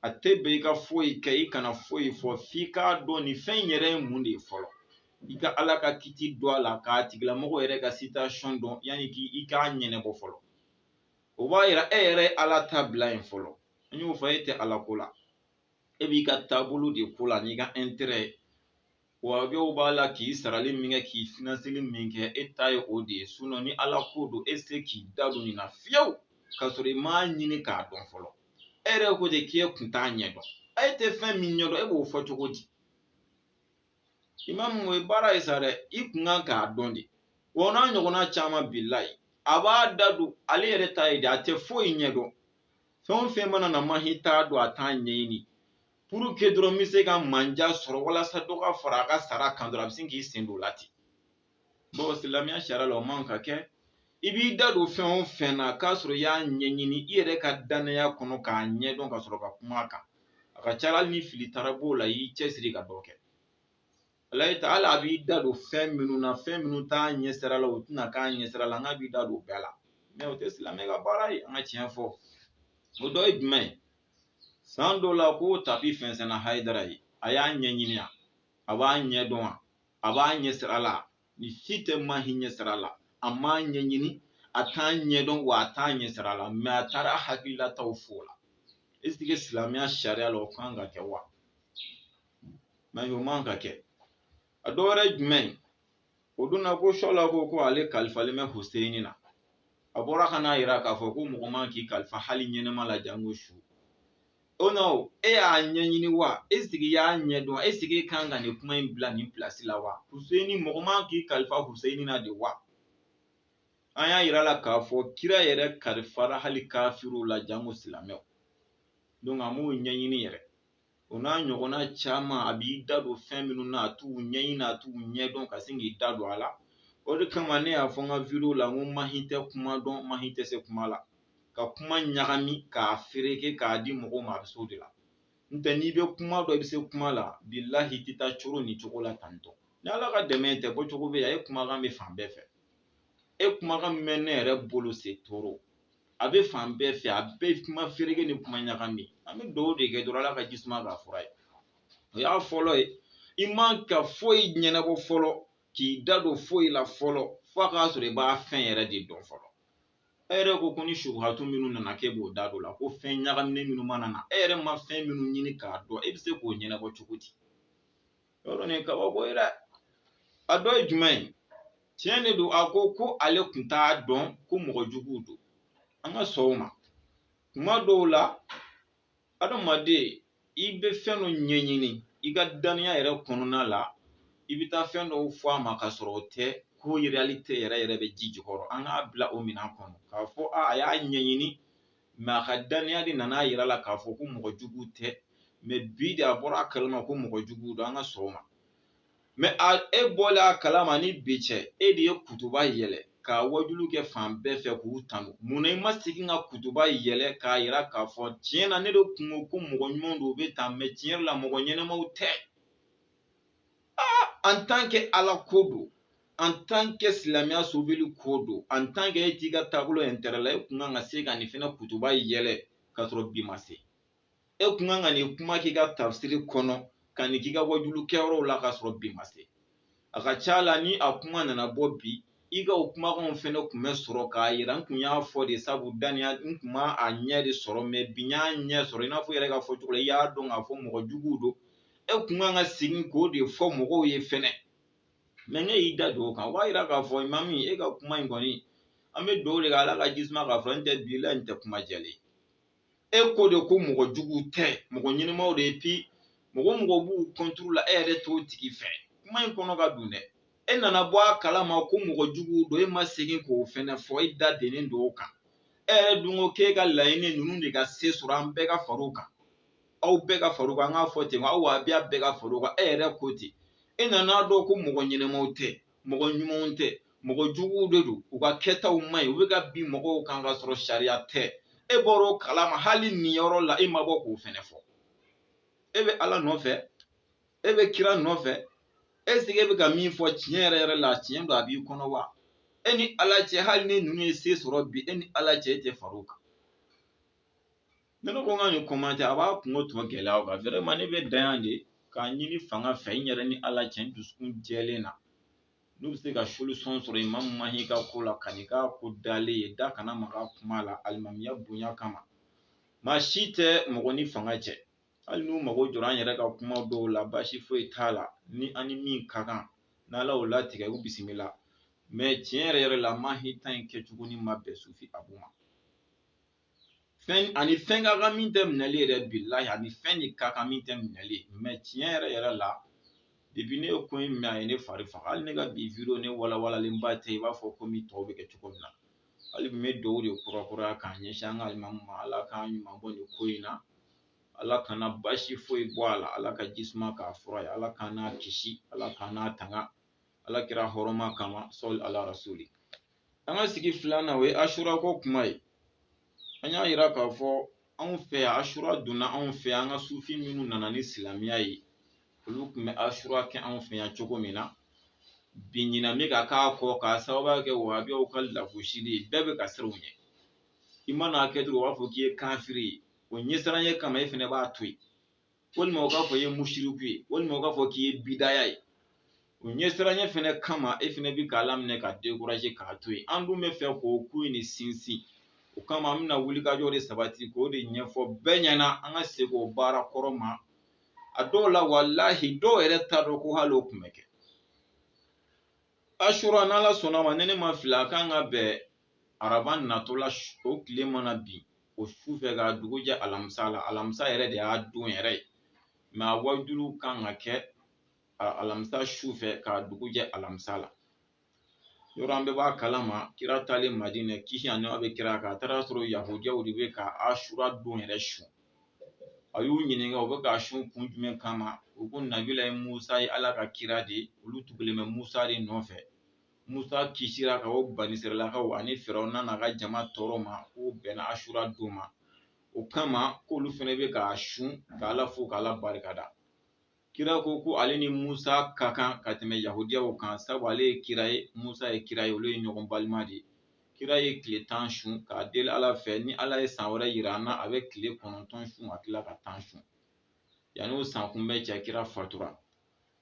a tɛ bɛn i ka foyi kɛ i kana foyi fɔ f'i k'a dɔn nin fɛn in yɛrɛ ye mun de ye fɔlɔ i ka ala ka kiti dɔn a la k'a tigilamɔgɔ yɛrɛ ka situation dɔn yanni k'i i k'a ɲɛnɛbɔ fɔlɔ o b'a yira e yɛrɛ ye ala ta bila yen fɔlɔ n y'o fɔ e tɛ ala ko la e b'i ka taabolo de ko la n'i ka intérêt ye wa dɔw b'a la k'i sarali min kɛ k'i finansili min kɛ e ta ye o de ye sinon ni ala ko don e se k'i da don nin na fiyewu k'a sɔrɔ i m'a ɲini k'a dɔn fɔlɔ e yɛrɛ ko de k'e kun t'a ɲɛdɔn e tɛ fɛn min ɲɛdɔn e b'o fɔ cogo di imamu o ye baara ye sa dɛ i kun kan k'a dɔn de wa n'a ɲɔgɔnna caman bilahi a b'a da don ale yɛrɛ ta ye de a tɛ foyi ɲɛ dɔn fɛn o fɛn mana na mahi t'a dɔn a t'a ɲɛɲini pour que dɔrɔn n bɛ se ka manja sɔrɔ walasa dɔ ka fara a ka sara kan dɔrɔn a bɛ sin k'i sen don o la ten bon silamɛya sariya la o man ka kɛ i b'i da don fɛn o fɛn na k'a sɔrɔ i y'a ɲɛɲini i yɛrɛ ka dannaya kɔnɔ k'a ɲɛdɔn ka sɔrɔ ka kuma a kan a ka ca hali ni fili taara b'o la i y'i cɛsiri ka dɔ kɛ ala ye ta hali a b'i da don fɛn minnu na fɛn minnu t'a ɲɛsira la o tɛna k'a ɲɛsira la n'a b'i da don bɛɛ la mɛ o tɛ silamɛ ka baara ye an ka tiɲɛ fɔ o dɔ ye jumɛn ye san dɔ la ko tapi fɛnsɛnna hayidara ye a y'a ɲɛɲini a b'a ɲɛdɔn wa a b'a ɲɛ sira la nin si tɛ mahi ɲɛ sira la a m'a ɲɛɲini a t'a ɲɛdɔn wa a t'a ɲɛ sira la mɛ a taara a hakililataw f'o la est-ce que silamɛya sariya la o kan ka kɛ wa mɛ o man ka kɛ a dɔ wɛrɛ jumɛn o don na ko sɔla ko ko ale kalifalen bɛ huseyini na a bɔra ka n'a yira k'a fɔ ko mɔgɔ man k'i kalifa hali ɲɛnɛma la jango su o non e y'a ɲɛɲini wa est-ce que i y'a ɲɛdɔn est-ce que e kan ka nin kuma in bila nin pilasi la wa huseyini mɔgɔ man k'i kalifa huseyini na de wa an y'a yira la k'a fɔ kira yɛrɛ kalifara hali kafiriw la janko silamɛw donc a m'o ɲɛɲini yɛrɛ o n'a ɲɔgɔnna caman a b'i da don fɛn minnu na a t'u ɲɛɲini a t'u ɲɛdɔn ka sin k'i da don a la o de kama ne y'a fɔ n ka video la n ko mahi tɛ kuma dɔn mahi tɛ se kuma la ka kuma ɲagami k'a fereke k'a di mɔgɔw ma a bɛ s'o de la n tɛ n'i bɛ kuma dɔn i bɛ se kuma la bilahi i tɛ taa cogo ni cogo la tantɔ ni ala ka dɛmɛ tɛ bɔ cogo bɛ a ye kumakan bɛ fan bɛɛ fɛ e kumakan min bɛ ne yɛrɛ bolo c'est trop a bɛ fan bɛɛ fɛ a bɛɛ kuma fereke ni kuma ɲagami an bɛ dugawu de kɛ dɔrɔn ala ka ji suma k'a fura ye o y'a fɔlɔ ye i man ka foyi ɲɛnabɔ fɔlɔ k'i da don foyi la fɔlɔ fo a k'a sɔrɔ i b'a fɛn yɛrɛ de dɔn fɔlɔ e yɛrɛ ko ko ni subuhatu minnu nana k'e b'o da don la ko fɛn ɲagaminen minnu mana na e yɛrɛ ma fɛn minnu ɲini k'a dɔn e bɛ se k'o ɲɛnabɔ cogo di yɔrɔ nin kabako ye dɛ a dɔ ye jumɛn ye tiɲɛ de don a ko ko ale kun t'a dɔn ko mɔgɔ juguw don an ka sɔn o ma kuma dɔw la adamaden i bɛ fɛn dɔ ɲɛɲini i ka daniya yɛrɛ kɔnɔna la i bɛ taa fɛn dɔw fɔ a ma ka sɔrɔ o tɛ ko réalité yɛrɛ yɛrɛ bɛ ji jukɔrɔ an k'a bila o minɛn kɔnɔ k'a fɔ a a y'a ɲɛɲini mais a ka daniya de nana a yira la k'a fɔ ko mɔgɔ jugu tɛ mais bi de a bɔra a kalama ko mɔgɔ jugu don an ka sɔn o ma mais a e bɔla a kalama ni bi cɛ e de ye kutuba yɛlɛ ka wajulu kɛ fan bɛɛ fɛ k'u tanu mun na i ma segin ka kutuba yɛlɛ k'a yira k'a fɔ tiɲɛ na ne de kun ko ko mɔgɔ ɲumanw don u bɛ tan mais tiɲɛ yɛrɛ la mɔgɔ ɲɛnɛmaw tɛ aa en tant que ala ko don en tant que silamɛya sobili ko don en tant que e t'i ka taabolo intérêt la e kun kan ka se ka nin fɛnɛ kutuba yɛlɛ k'a sɔrɔ bi ma se e kun kan ka nin kuma k'i ka tafsiri kɔnɔ ka nin k'i ka wajulu kɛyɔrɔw la k'a sɔrɔ bi ma se a ka ca la ni a kuma nana bɔ bi i ka o kumakanw fɛnɛ kun bɛ sɔrɔ k'a yira n kun y'a fɔ de sabu daniya n kun ma a ɲɛ de sɔrɔ mais bi n y'a ɲɛ sɔrɔ i n'a fɔ i yɛrɛ ka fɔ cogo la i y'a dɔn k'a fɔ mɔgɔ juguw don e kun kan ka segin k'o de fɔ mɔgɔw ye fɛnɛ mais n'e y'i da den o kan o b'a yira k'a fɔ imami e ka kuma in kɔni an bɛ dugawu de kɛ ala ka jisuma k'a fɔ n tɛ bilahi n tɛ kuma jɛlen e ko de ko mɔgɔ jugu tɛ mɔgɔ ɲɛnɛmaw de et puis mɔgɔ mɔgɔ b'u contre la e yɛrɛ t'o tigi fɛ kuma in kɔnɔ ka dun dɛ e nana bɔ a kalama ko mɔgɔ jugu don e ma segin k'o fɛnɛ fɔ e da dennen don o kan e yɛrɛ dun ko k'e ka laɲini ninnu de ka se sɔrɔ an bɛɛ ka far'u kan aw bɛɛ ka far'u kan an k'a fɔ ten aw wahabiya bɛɛ ka far'u kan e yɛrɛ ko ten e nana a dɔn ko mɔgɔ ɲɛnɛmaw tɛ mɔgɔ ɲumanw tɛ mɔgɔ juguw de don u ka kɛtaw man ɲi u bɛ ka bin mɔgɔw kan ka sɔrɔ sariya tɛ e bɔra o kalama hali nin yɔrɔ la e ma bɔ k'o fɛnɛ fɔ e bɛ ala nɔfɛ e bɛ kira nɔfɛ est-ce que e bɛ ka min fɔ tiɲɛ yɛrɛ yɛrɛ la tiɲɛ don a b'i kɔnɔ wa e ni ala cɛ hali ni ninnu ye se sɔrɔ bi e ni ala cɛ e tɛ fara o kan Ne ne ko n ka nin commentaire a b'a kunko tɔ gɛlɛya o kan vraiment ne bɛ dan yan de k'a ɲini fanga fɛ n yɛrɛ ni ala cɛ n dusukun jɛlen na n'u bɛ se ka solution sɔrɔ imamu mahi ka ko la ka'i ka ko dalen ye da kana maga kuma la alimamiya bonya kama maa si tɛ mɔgɔ ni fanga cɛ hali n'u mago jɔra an yɛrɛ ka kuma dɔw la baasi foyi t'a la ni an ni min ka kan n'ala y'o latigɛ u bisimila mais tiɲɛ yɛrɛ yɛrɛ la mahi ta in kɛcogo ni ma bɛn sufi abu ma fɛn ani fɛn ka kan min tɛ minɛli yɛrɛ bilahi ani fɛn de ka kan min tɛ minɛli mais tiɲɛ yɛrɛ yɛrɛ la depuis ne ye ko in mɛn a ye ne fari faga hali ne ka bi video ne walawalalenba tɛ i b'a fɔ komi tɔw bɛ kɛ cogo min na hali bi n bɛ dugawu de kurakuraya k'a ɲɛsin an ka alimamu ma ala k'an ɲuman bɔ nin ko in na ala kana baasi foyi bɔ a la ala ka jisuma k'a fura ye ala k'an n'a kisi ala k'an n'a tanga ala kira hɔrɔma kama sali ala rasuli an ka sigi filanan o ye asura ko kuma ye an y'a yira k'a fɔ anw fɛ yan asura donna anw fɛ yan an ka sufi minnu nana ni silamɛya ye olu tun bɛ asura kɛ anw fɛ yan cogo min na bi ɲina bɛ ka k'a kɔ k'a sababuya kɛ wahabiyaw ka lagosili ye bɛɛ bɛ ka siran u ɲɛ i mana a kɛ dɔrɔn u b'a fɔ k'i ye kafiri ye o ɲɛsiranya kama e fɛnɛ b'a to yen walima u k'a fɔ i ye musiriku ye walima u k'a fɔ k'i ye bidaya ye u ɲɛsiranya fɛnɛ kama e fɛnɛ bɛ k'a laminɛ ka décourager k'a to yen an dun bɛ fɛ k'o ko in de sinsin o kama an bɛna wulikajɔ de sabati k'o de ɲɛfɔ bɛɛ ɲɛna an ka segin o baara kɔrɔ ma a dɔw la walahi dɔw yɛrɛ t'a dɔn ko hali o tun bɛ kɛ asura n'ala sɔnna ma ni ne ma fili a kan ka bɛn araba natɔ la o tile mana bin o su fɛ k'a dugu jɛ alamisa la alamisa yɛrɛ de y'a don yɛrɛ ye mais a wajulu kan ka kɛ alamisa su fɛ k'a dugu jɛ alamisa la yɔrɔ an bɛɛ b'a kalama kira taalen madinɛ kisi ani nɛɛma bɛ kira kan a taara sɔrɔ yahudiyaw de bɛ ka asura don yɛrɛ sun a y'u ɲininka u bɛ k'a sun kun jumɛn kama u ko nabilayi musa ye ala ka kira de olu tugulen bɛ musa de nɔfɛ Musa kisira ka bɔ banisirayilakaw ani firawuna n'a ka jama tɔɔrɔ ma k'o bɛnna asura don ma o kama k'olu fɛnɛ bɛ k'a sun k'ala fo k'ala barikada kira ko ko ale ni musa ka kan ka tɛmɛ yahudiyaw kan sabu ale ye kira ye musa ye kira ye olu ye ɲɔgɔn balima de ye kira ye tile tan sun k'a deli ala fɛ ni ala ye san wɛrɛ yira an na a bɛ tile kɔnɔntɔn sun ka tila ka tan sun yanni o san kunbɛn cɛ kira fatura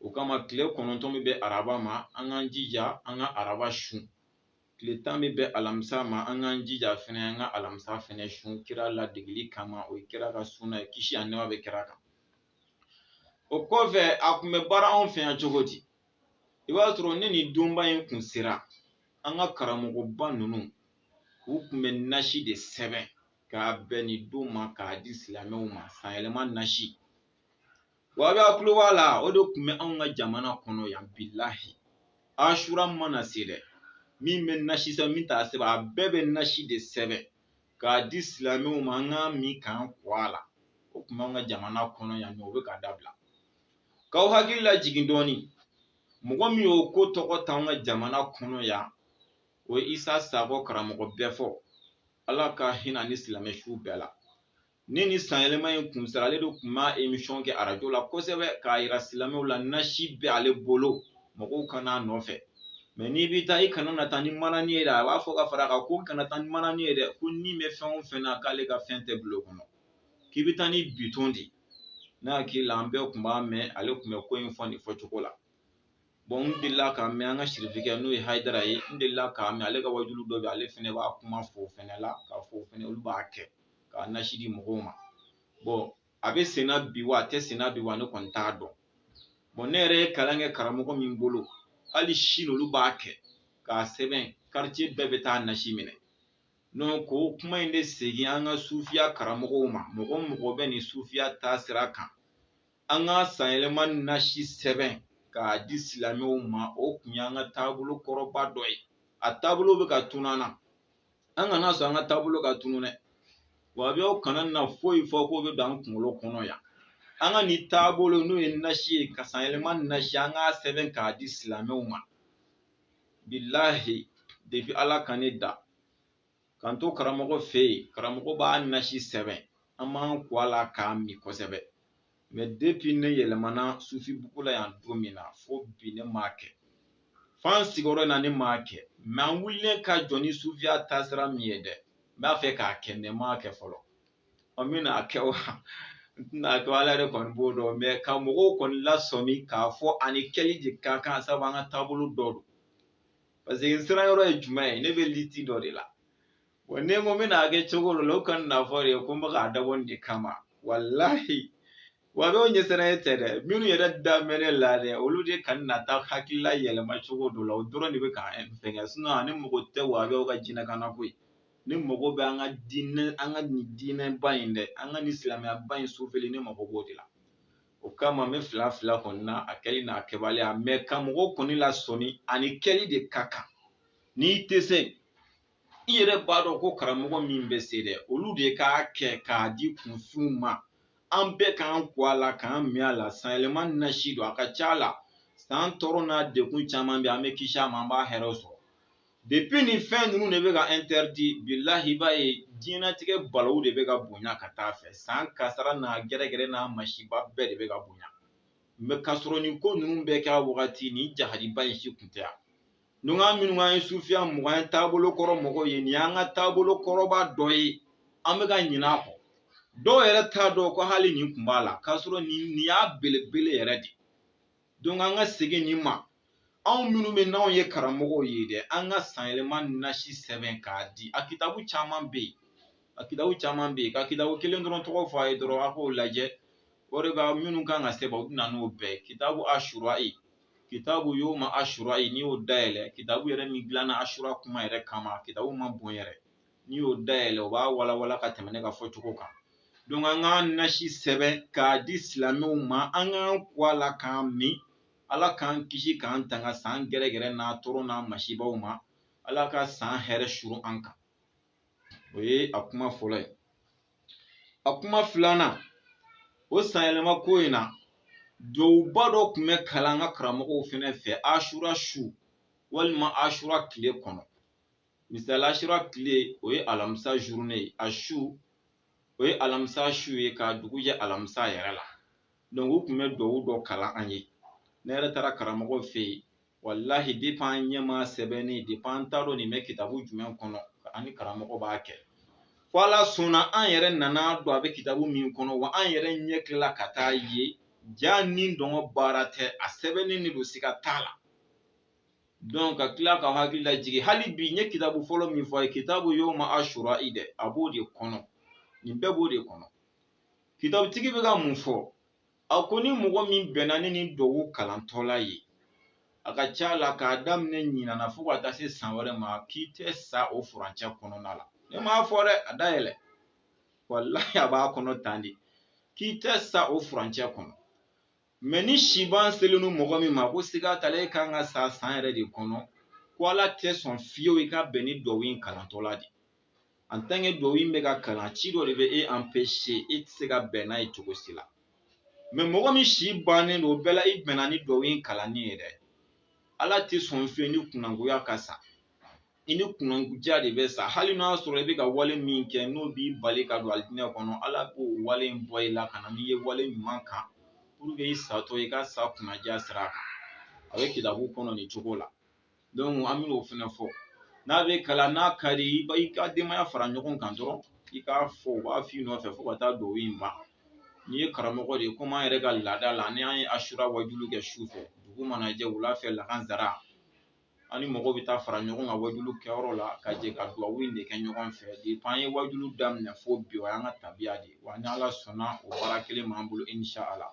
o kama tile kɔnɔntɔn bɛ bɛn araba ma an k'an jija an ka araba sun tile tan bɛ bɛn alamisa ma an k'an jija fana an ka alamisa fana sun kira ladegeli kama o ye kira ka suna ye kisi ani nɛɛma bɛ kira kan o kɔfɛ a tun bɛ baara anw fɛ yan cogo di i b'a sɔrɔ ni nin donba in kun sera an ka karamɔgɔba ninnu u tun bɛ nasi de sɛbɛn k'a bɛn nin don ma k'a di silamɛw ma sanyɛlɛma nasi Wahabiyaw tulo b'a la o de tun bɛ anw ka jamana kɔnɔ yan bilahi asura mana se dɛ min bɛ nasi sɛbɛn min t'a sɛbɛn a bɛɛ bɛ nasi de sɛbɛn k'a di silamɛw ma an k'a min k'an ko a la o tun b'an ka jamana kɔnɔ yan nɔ o bɛ ka dabila k'aw hakili lajigin dɔɔnin mɔgɔ min y'o ko tɔgɔ ta an ka jamana kɔnɔ yan o ye isa sakɔ karamɔgɔ bɛɛfɔ ala ka hinɛ a ni silamɛ su bɛɛ la ni nin sanyɛlɛma in kun sera ale de tun b'a emisɔn kɛ arajo la kosɛbɛ k'a yira silamɛw la nasi bɛ ale bolo mɔgɔw ka na a nɔfɛ mɛ n'i bɛ taa i kana na taa ni manani ye dɛ a b'a fɔ ka fara kan ko kana taa ni manani ye dɛ ko n'i bɛ fɛn o fɛn na k'ale ka fɛn tɛ bil'o kɔnɔ k'i bɛ taa ni bitɔn de ne hakili la an bɛɛ tun b'a mɛn ale tun bɛ ko in fɔ nin fɔcogo la n delila k'a mɛn an ka sirifikɛ n'o ye Hayidara ye n delila k'a mɛn ale ka wajuli dɔ bɛ ale fana b'a kuma fɔ o fana la k'a fɔ o fana olu b'a kɛ k'a nasi di mɔgɔw ma a bɛ sen na bi wa a tɛ sen na bi wa ne kɔni t'a dɔn bɔn ne yɛrɛ ye kalan kɛ karamɔgɔ min bolo hali sini olu b'a kɛ k'a sɛbɛn karitiye bɛɛ bɛ taa nasi minɛ donc o kuma in bɛ segin an ka sufiya karamɔgɔw ma mɔgɔ o mɔgɔ bɛ nin sufiya taasira kan an ka sanyɛlɛma nasi sɛbɛn k'a di silamɛw ma o tun y'an ka taabolo kɔrɔba dɔ ye a taabolo bɛ ka tunun an na an kana sɔn an ka taabolo ka tunun dɛ wahabiyaw kana na foyi fɔ k'o bɛ don an kunkolo kɔnɔ yan an ka nin taabolo n'o ye nasi ye ka sanyɛlɛma nasi an k'a sɛbɛn k'a di silamɛw ma bilahi depi ala ka ne da K'an to karamɔgɔ fɛ yen karamɔgɔ b'a nasi sɛbɛn an b'an ko a la k'a min kosɛbɛ mɛ depi ne yɛlɛmana sufi bugu la yan don min na fo bi ne m'a kɛ f'an sigiyɔrɔ in na ne m'a kɛ mɛ an wulilen ka jɔ ni sufiya taasira min ye dɛ n b'a fɛ k'a kɛ mɛ n m'a kɛ fɔlɔ ɔ n bɛn'a kɛ wa n tɛna kɛ ala yɛrɛ kɔni b'o dɔn mɛ ka mɔgɔw kɔni lasɔmi k'a fɔ a ni kɛli de ka kan sabu an ka taabolo dɔ don paseke n siran yɔrɔ ye jumɛn ye ne bɛ liti dɔ de la wa ne ko n bɛna kɛ cogo dɔ la u kana n'a fɔ dɛ ko n bɛ k'a dabɔ nin de kama walahi wahabiw ɲɛsiranɲɛ tɛ dɛ minnu yɛrɛ da bɛ ne la dɛ olu de kana na taa hakilila yɛlɛma cogo dɔ la o dɔrɔn de bɛ ka n fɛngɛ sinɔn ne mago tɛ wahabiw ka jinɛkan na koyi ne mago bɛ an ka diinɛ an ka nin diinɛba in dɛ an ka nin silamɛyaba in sufɛli ne mago b'o de la o kama n bɛ fila fila kɔni na a kɛli n'a kɛbaliya mɛ ka mɔgɔw kɔni lasɔmi a ni kɛli de ka kan n'i tɛ se i yɛrɛ b'a dɔn ko karamɔgɔ min bɛ se dɛ olu de k'a kɛ k'a di kunfinw ma an bɛɛ k'an ko a la k'an min a la san yɛlɛma nasi don a ka ca a la san tɔɔrɔ n'a degun caman bɛ an bɛ kisi a ma an b'a hɛrɛw sɔrɔ Depuis nin fɛn ninnu de bɛ ka interdit bilahi i b'a ye diɲɛlatigɛ balawu de bɛ ka bonya ka taa fɛ san kasara n'a gɛrɛgɛrɛ n'a masiba bɛɛ de bɛ ka bonya mɛ k'a sɔrɔ nin ko ninnu bɛɛ kɛra wagati nin jahadiba in si tun tɛ yan donc an minnu ye sufiya mɔgɔw ye taabolo kɔrɔ mɔgɔw ye nin y'an ka taabolo kɔrɔba dɔ ye an bɛ ka ɲinɛ a kɔ dɔw yɛrɛ t'a dɔn ko hali nin tun b'a la k'a sɔrɔ nin y'a belebele yɛrɛ de don an ka segin nin ma anw minnu bɛ n'anw ye karamɔgɔw ye dɛ an ka san yɛlɛma nasi sɛbɛn k'a di a kitabu caman bɛ yen a kitabu caman bɛ yen ka kitabu kelen dɔrɔn tɔgɔ fɔ a ye dɔrɔn a k'o lajɛ o de b'a minnu kan ka sɛbɛn u bɛ na n'o bɛɛ kitabu asura i kitabu yoma asura i n'i y'o dayɛlɛ kitabu yɛrɛ min dilanna asura kuma yɛrɛ kama kitabu man bon yɛrɛ n'i y'o dayɛlɛ o b'a walawala ka tɛmɛ ne ka fɔcogo kan donc an ka nasi sɛbɛn k'a di silamɛw ma an k'an ko a la k'an min ala k'an kisi k'an tanga san gɛrɛgɛrɛ n'a tɔɔrɔ n'a masibaw ma ala ka san hɛrɛ suru an kan o ye a kuma fɔlɔ ye a kuma filanan o san yɛlɛma ko in na duwawuba dɔ tun bɛ kalan an ka karamɔgɔw fɛnɛ fɛ asura su walima asura tile kɔnɔ misali asura tile o ye alamisa journée ye a su o ye alamisa su ye ka dugu jɛ alamisa yɛrɛ la donc u tun bɛ duwawu dɔ kalan an ye ne yɛrɛ taara karamɔgɔ fɛ yen walahi depuis an ɲɛ m'a sɛbɛnni depuis an t'a dɔn nin bɛ kitabu jumɛn kɔnɔ an ni karamɔgɔ b'a kɛ fo ala sɔnna an yɛrɛ nan'a dɔn a bɛ kitabu min kɔnɔ wa an yɛrɛ ɲɛ tilala ka t'a ye jaa nin dɔngɔ baara tɛ a sɛbɛnnen de don siga t'a la donc ka tila ka hakili lajigin hali bi n ye kitabu fɔlɔ min fɔ a ye kitabu yoma ashura i dɛ a b'o de kɔnɔ nin bɛɛ b'o de kɔnɔ Kitabutigi bɛ ka mun fɔ a ko ni mɔgɔ min bɛnna ni nin duwawu kalantɔla ye a ka ca la k'a daminɛ ɲinana fo ka taa se san wɛrɛ ma k'i tɛ sa o furancɛ kɔnɔna la ne m'a fɔ dɛ a dayɛlɛ walahi a b'a kɔnɔ tan de k'i tɛ sa o furancɛ kɔnɔ mɛ ni siban selen don mɔgɔ min ma ko siga t'a la e kan ka sa san yɛrɛ de kɔnɔ ko ala tɛ sɔn fiyewu i ka bɛn ni duwawu in kalantɔla de en tant que duwawu in bɛ ka kalan ci dɔ de bɛ e empêcher e tɛ se ka bɛn n'a ye cogo si la mɛ mɔgɔ min si bannen don o bɛɛ la i bɛnna ni duwawu in kalanni ye dɛ ala tɛ sɔn fiyewu i ni kunangoya ka sa i ni kunnaja de bɛ sa hali n'a sɔrɔ i bɛ ka wale min kɛ n'o b'i bali ka don alijinɛ kɔnɔ ala b'o wale in bɔ i la ka na n'i ye wale ɲuman kan pour que i satɔ i ka sa kunnaja sira kan a bɛ kitabu kɔnɔ nin cogo la donc an bɛ o fɛnɛ fɔ n'a bɛ kalan n'a ka di i b'i ka denbaya fara ɲɔgɔn kan dɔrɔn i k'a fɔ u b'a f'i nɔfɛ fo ka taa duwawu in ban n'i ye karamɔgɔ de ye komi an yɛrɛ ka laada la ni an ye ashura wajulu kɛ su fɛ dugu mana jɛ wula fɛ lakanzara an ni mɔgɔw bɛ taa fara ɲɔgɔn kan wajulu kɛyɔrɔ la ka jɛ ka duwawu in de kɛ ɲɔgɔn fɛ depuis an ye wajulu daminɛ fo bi o y'an ka tabiya de ye wa ni ala sɔnna o baara kelen b'an bolo inshallah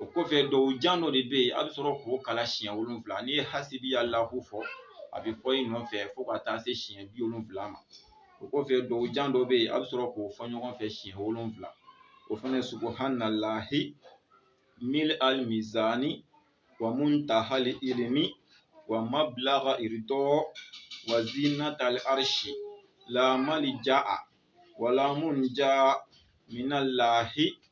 o kɔfɛ duwawu jan dɔ de bɛ yen a bɛ sɔrɔ k'o kalan siɲɛ wolonwula n'i ye hasibiyalahu fɔ a bɛ fɔ i nɔfɛ fo ka taa se siɲɛ bi wolonwula ma o kɔfɛ duwawu jan dɔ bɛ yen a bɛ sɔrɔ k'o fɔ ɲɔgɔn fɛ siɲɛ wolonwula o fana subhanallahi mil al mizani wa muntahal ilmi wa mablagha ridɔ wa zinatal arshi la malja'a wa la munja minallahi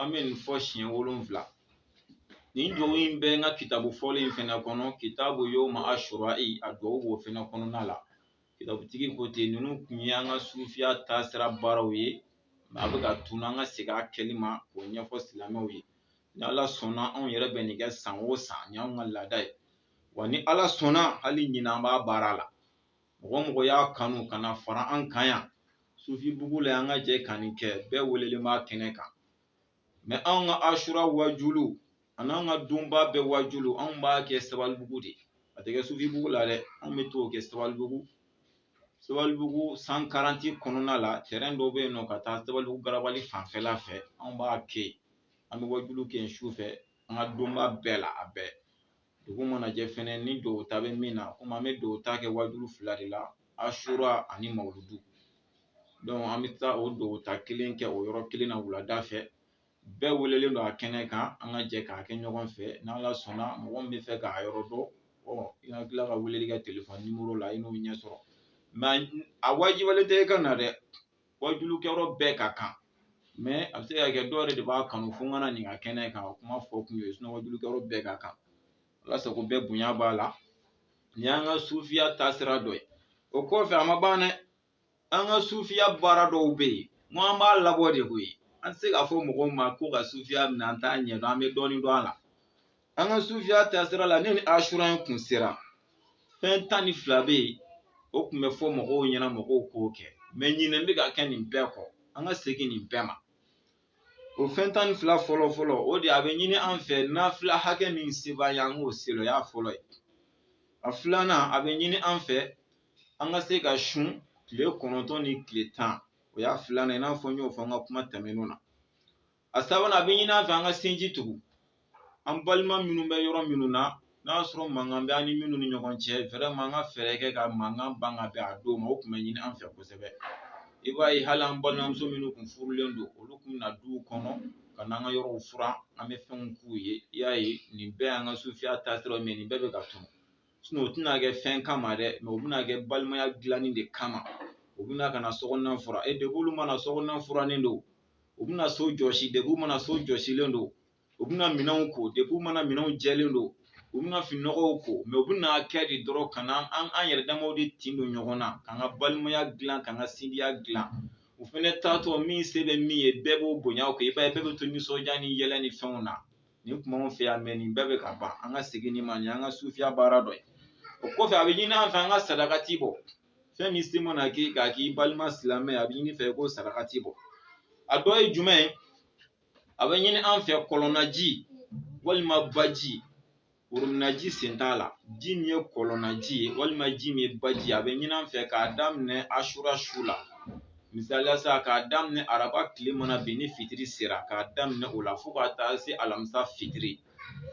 an bɛ nin fɔ siɲɛ wolonwula nin duwawu in bɛ n ka kitabu fɔlen in fɛnɛ kɔnɔ kitabu yawma ashura'i a duwawu b'o fɛnɛ kɔnɔna la kitabutigi ko ten ninnu kun ye an ka sufiya taasira baaraw ye a bɛ ka tunu an ka segin a kɛli ma k'o ɲɛfɔ silamɛw ye ni ala sɔnna anw yɛrɛ bɛ nin kɛ san o san nin y'anw ka laada ye wa ni ala sɔnna hali ɲinan an b'a baara la mɔgɔ mɔgɔ y'a kanu ka na fara an kan yan sufibugu la an ka jɛ ka nin kɛ bɛɛ welelen b'a kɛnɛ kan mɛ anw ka ashura wajulu ani an ka donba bɛɛ wajulu anw b'a kɛ sabalibugu de a tɛ kɛ sufibugu la dɛ anw bɛ t'o kɛ sabalibugu sabalibugu cent quarante kɔnɔna la tɛrɛn dɔ bɛ yen nɔ ka taa sabalibugu garabali fanfɛla fɛ anw b'a kɛ yen an bɛ wajulu kɛ yen su fɛ an ka donba bɛɛ la a bɛɛ dugu mana jɛ fɛnɛ ni duwawu ta bɛ min na komi an bɛ duwawu ta kɛ wajulu fila de la ashura ani mawuludu donc an bɛ taa o duwawu ta kelen kɛ o yɔrɔ kelen na wulada fɛ bɛɛ welelen don a kɛnɛ kan an ka jɛ k'a kɛ ɲɔgɔn fɛ n'ala sɔnna mɔgɔ min bɛ fɛ k'a yɔrɔ dɔn i ka tila ka weleli kɛ telefɔni nimoro la i n'o ɲɛ sɔrɔ mɛ a wajibiyalen tɛ i ka na dɛ wajulukɛyɔrɔ bɛɛ ka kan mɛ a bɛ se ka kɛ dɔw yɛrɛ de b'a kanu fo u ka na nin ka kɛnɛ kan o kuma fɔ kun y'o ye sinon wajulukɛyɔrɔ bɛɛ ka kan ala sago bɛɛ bonya b'a la nin y'an ka sufiya taasira dɔ ye o kɔfɛ a ma ban dɛ an ka sufiya baara dɔw bɛ yen n ko an b'a labɔ de koyi an tɛ se k'a fɔ mɔgɔw ma ko ka sufiya minɛ an t'a ɲɛdɔn an bɛ dɔɔnin dɔn a la an ka sufiya taasira la ne ni asura in kun sera fɛn tan ni fila bɛ yen o tun bɛ fɔ mɔgɔw ɲɛna mɔgɔw k'o kɛ mɛ ɲinɛ bɛ ka kɛ nin bɛɛ kɔ an ka segin nin bɛɛ ma o fɛn tan ni fila fɔlɔ fɔlɔ o de a bɛ ɲini an fɛ nafila hakɛ min se b'an ye an k'o seli o y'a fɔlɔ ye a filanan a bɛ ɲini an fɛ an ka se ka sun tile kɔnɔntɔn ni tile tan o y'a filanan i n'a fɔ n y'o fɔ an ka kuma tɛmɛnenw na a sabanan a bɛ ɲini an fɛ an ka sinji tugu an balima minnu bɛ yɔrɔ minnu na n'a y'a sɔrɔ mankan bɛ an ni minnu ni ɲɔgɔn cɛ vraiment an ka fɛɛrɛ kɛ ka mankan ban ka bɛn a don ma o tun bɛ ɲini an fɛ kosɛbɛ i b'a ye hali an balimamuso minnu tun furulen don olu tun bɛ na duw kɔnɔ ka n'an ka yɔrɔw furan an bɛ fɛnw k'u ye i y'a ye nin bɛɛ y'an ka sufiya taasiraw mɛ nin bɛɛ bɛ ka tunu sinɔn o tɛna kɛ fɛn kama dɛ mɛ o bɛna kɛ balimaya dilanni de kama u bɛna ka na sokɔnɔna furan depuis olu ma na sokɔnɔna furannen don u bɛna so jɔsi depuis u ma na so jɔsilen don u bɛna minɛnw ko depuis u ma na minɛnw jɛlen don u bɛna fininɔgɔw ko mɛ u bɛna kɛ de dɔrɔn ka na an yɛrɛ damaw de tin don ɲɔgɔn na k'an ka balimaya dilan k'an ka sindiya dilan u fɛnɛ taatɔ min se bɛ min ye bɛɛ b'o bonya kɛ i b'a ye bɛɛ bɛ to nisɔndiya ni yɛlɛ ni fɛnw na nin tun b'anw fɛ yan mɛ nin bɛɛ bɛ ka ban an ka segin nin ma nin y'an ka sufiya baara dɔ ye o kɔfɛ a bɛ ɲini an fɛ an ka sadakati bɔ fɛn min se mana k'i k'a k'i balima silamɛ ye a bɛ ɲini fɛ ko sadakati bɔ a dɔ ye jumɛn ye a bɛ ɲini an fɛ kɔlɔnnaji walima baji worominaji sen t'a la ji min ye kɔlɔnnaji ye walima ji min ye baji a bɛ ɲini an fɛ k'a daminɛ asura su la misaliya sa k'a daminɛ araba tile mana bin ni fitiri sera k'a daminɛ o la fo ka taa se alamisa fitiri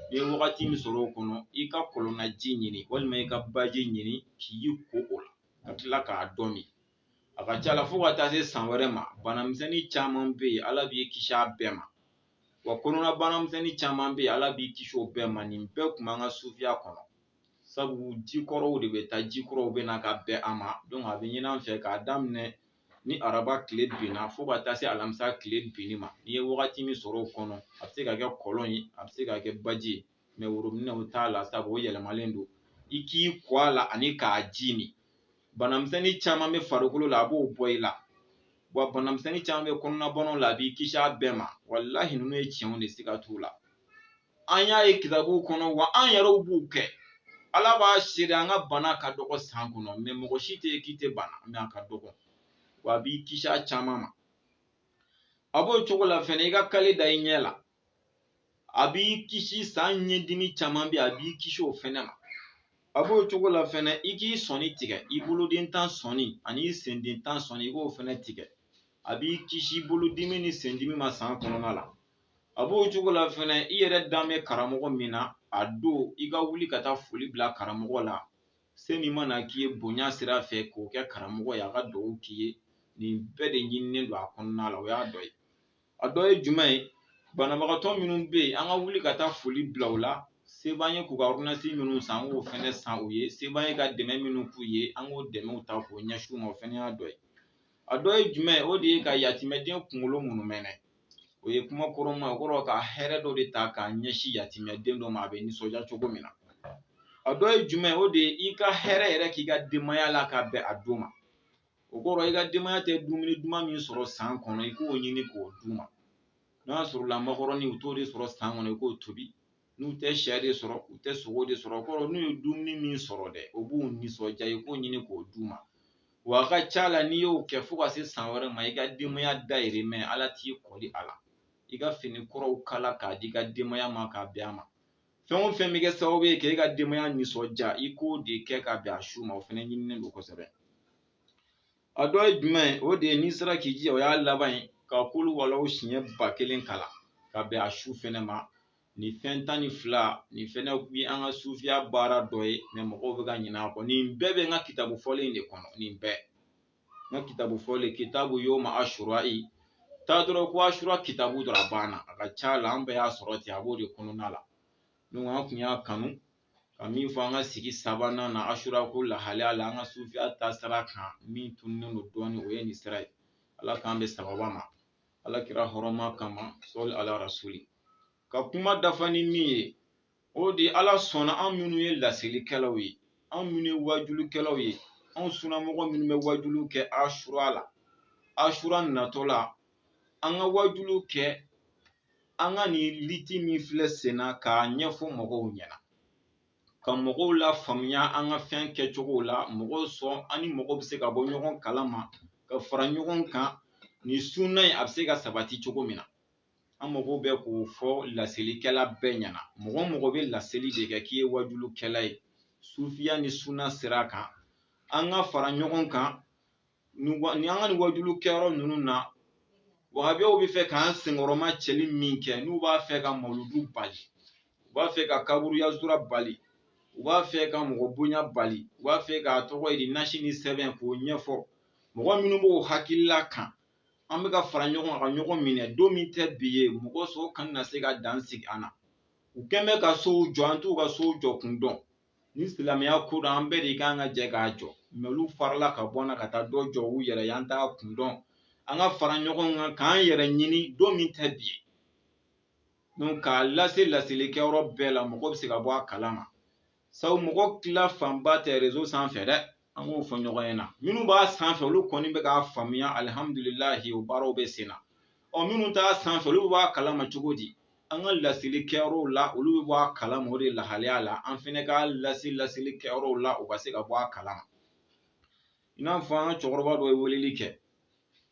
n'i ye wagati min sɔrɔ o kɔnɔ i ka kɔlɔnnaji ɲini walima i ka baji ɲini k'i ko o la ka tila k'a dɔ min a ka ca la fo ka taa se san wɛrɛ ma banamisɛnnin caman bɛ yen ala b'i kisi a bɛɛ ma wa kɔnɔna banamisɛnnin caman bɛ yen ala b'i kisi o bɛɛ ma nin bɛɛ tun b'an ka sufiya kɔnɔ sabu jikɔrɔw de bɛ taa jikɔrɔw bɛ na ka bɛn a ma donc a bɛ ɲini an fɛ k'a daminɛ ni araba tile binna fo ka taa se alamisa tile binni ma n'i ye wagati min sɔrɔ o kɔnɔ a bɛ se ka kɛ kɔlɔn ye a bɛ se ka kɛ baji ye mɛ worominɛw t'a la sabu o yɛlɛmalen don i k'i ko a la ani k'a ji min banamisɛnnin caman bɛ farikolo la a b'o bɔ i la wa banamisɛnnin caman bɛ kɔnɔnabanaw la a b'i kisi a bɛɛ ma walahi ninnu ye tiɲɛw de siga t'u la an y'a ye kitabuw kɔnɔ wa an yɛrɛw b'u kɛ ala b'a seere an ka bana ka dɔgɔ san kɔnɔ mɛ mɔgɔ si tɛ k'i tɛ bana mɛ a ka dɔgɔ wa a b'i kisi a caman ma a b'o cogo la fɛnɛ i ka kale da i ɲɛ la a b'i kisi san ɲɛdimi caman bɛ a b'i kisi o fɛnɛ ma a b'o cogo la fɛnɛ i k'i sɔni tigɛ i boloden tan sɔni ani i senden tan sɔni i k'o fɛnɛ tigɛ a b'i kisi bolodimi ni sendimi ma san kɔnɔna la a b'o cogo la fɛnɛ i yɛrɛ dan bɛ karamɔgɔ min na a don i ka wuli ka taa foli bila karamɔgɔ la se min mana k'i ye bonya sira fɛ k'o kɛ karamɔgɔ ye a ka dugawu k'i ye nin bɛɛ de ɲininen don a kɔnɔna la o y'a dɔ ye a dɔ ye jumɛn ye banabagatɔ minnu bɛ yen an ka wuli ka taa foli bila u la se b'an ye k'u ka ordonnance minnu san an k'o fɛnɛ san u ye se b'an ye ka dɛmɛ minnu k'u ye an k'o dɛmɛw ta k'o ɲɛsin u ma o fɛnɛ y'a dɔ ye a dɔ ye jumɛn o de ye ka yatimɛden kunkolo munumɛnɛ o ye kuma kɔrɔma o kɔrɔ ka hɛrɛ dɔ de ta k'a ɲɛsin yatimɛden dɔ ma a bɛ nisɔndiya cogo min na a dɔ ye jumɛn o de ye i ka hɛrɛ yɛrɛ k'i ka denbaya la ka bɛn a don ma o kɔrɔ i ka denbaya tɛ dumuni duman min sɔrɔ san kɔnɔ i k'o ɲini k'o d'u ma n'a sɔrɔla makɔrɔni u t'o de sɔrɔ san kɔnɔ i k'o tobi n'u tɛ syɛ de sɔrɔ u tɛ sogo de sɔrɔ o kɔrɔ n'u ye dumuni min sɔrɔ dɛ o b'u nisɔndiya i k'o ɲini k'o d'u ma wa a ka ca la n'i y'o kɛ fo ka se san wɛrɛ ma i ka denbaya dayirimɛ ala t'i kɔli a la i ka fini kuraw kala k'a di i ka denbaya ma k'a bɛn a ma fɛn o fɛn bɛ kɛ sababu ye k'e ka denbaya nisɔndiya i k'o de kɛ ka bɛn a su ma o fɛnɛ ɲininen don kosɛbɛ a dɔ ye jumɛn ye o de ye n'i sera k'i jija o y'a laban ye ka kuluwalahu siɲɛ ba kelen kalan ka bɛn a su fɛnɛ ma nin fɛn tan ni fila nin fɛnɛ ye an ka sufiya baara dɔ ye mɛ mɔgɔw bɛ ka ɲinɛ a kɔ nin bɛɛ bɛ n ka kitabu fɔlen de kɔnɔ nin bɛɛ n ka kitabu fɔlen kitabu yoma asura i taa dɔrɔn ko asura kitabu dɔrɔn a banna a ka ca la an bɛɛ y'a sɔrɔ ten a b'o de kɔnɔna la donc an kun y'a kanu ka min fɔ an ka sigi sabanan na asura ko lahalaya la an ka sufiya taasira kan min tununnen don dɔɔnin o ye nin sira ye ala k'an bɛn sababa ma ala kira hɔrɔma kama sali ala rasuli ka kuma dafa ni min ye o de ala sɔnna an minnu ye lasilikɛlaw ye an minnu ye wajulikɛlaw ye an sunnamɔgɔ minnu bɛ wajulu kɛ asura la asura natɔ la an ka wajulu kɛ an ka nin lutte min filɛ senna k'a ɲɛfɔ mɔgɔw ɲɛna ka mɔgɔw lafaamuya an ka fɛn kɛcogow la mɔgɔw sɔn an ni mɔgɔw bɛ se ka bɔ ɲɔgɔn kalama ka fara ɲɔgɔn kan nin sunna in a bɛ se ka sabati cogo min na an mɔgɔw bɛ k'o fɔ laselikɛla bɛɛ ɲɛna mɔgɔ o mɔgɔ bɛ laseli de kɛ k'i ye wajulukɛla ye sufiya ni sunna sira kan an ka fara ɲɔgɔn kan nin wa- nin an ka nin wajulu kɛyɔrɔ ninnu na wahabiyaw b'a fɛ k'an senkɔrɔma cɛli min kɛ n'u b'a fɛ ka mawuludu bali u b'a fɛ ka kaburuyazura bali u b'a fɛ ka mɔgɔ bonya bali u b'a fɛ k'a tɔgɔ ye di nasi ni sɛbɛn k'o ɲɛfɔ mɔgɔ minnu b'o hakilila kan an bɛ ka fara ɲɔgɔn kan ka ɲɔgɔn minɛ don min tɛ bi ye mɔgɔ si kana se ka dan sigi an na u kɛn bɛ ka sow jɔ an t'u ka sow jɔ kun dɔn ni silamɛya ko don an bɛɛ de kan ka jɛ k'a jɔ mɛ olu farala ka bɔ an na ka taa dɔ jɔ u yɛrɛ ye an t'a kun dɔn an ka fara ɲɔgɔn kan k'an yɛrɛ ɲini don min tɛ bi ye donc k'a lase laseli kɛyɔrɔ bɛɛ la mɔgɔ bɛ se ka bɔ a kalama sabu mɔgɔ tila fanba tɛ rezo sanfɛ dɛ an k'o fɔ ɲɔgɔn ɲɛna minnu b'a sanfɛ olu kɔni bɛ k'a faamuya alihamudulilahi o baaraw bɛ sen na ɔ minnu t'a sanfɛ olu bɛ bɔ a kalama cogo di an ka laseli kɛyɔrɔw la olu bɛ bɔ a kalama o de lahalaya la an fɛnɛ k'a lase laseli kɛyɔrɔw la u ka se ka bɔ a kalama i n'a fɔ an ka cɛkɔrɔba dɔ ye weleli kɛ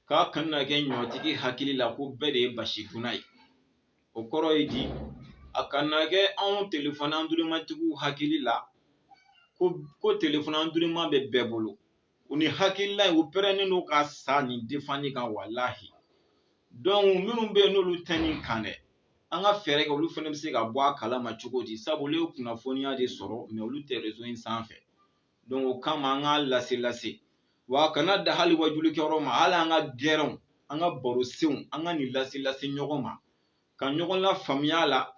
k'a kana kɛ ɲɔtigi hakili la ko bɛɛ de ye basi dunna ye o kɔrɔ ye di a kana kɛ anw telefɔn andurumatigiw hakili la ko telefɔn anduruma bɛ bɛɛ bolo u ni hakilila u pɛrɛnnen don ka sa nin defani kan walahi dɔnku minnu bɛ yen n'olu tɛ nin kan dɛ an ka fɛɛrɛ kɛ olu fana bɛ se ka bɔ a kalama cogo di sabu olu ye kunnafoniya de sɔrɔ mɛ olu tɛ rezo in sanfɛ donc o kama an k'a lase lase wa a kana da hali wajuli kɛyɔrɔ ma hali an ka gɛrɛnw an ka baro senw an ka nin lase lase ɲɔgɔn ma ka ɲɔgɔn lafaamuya la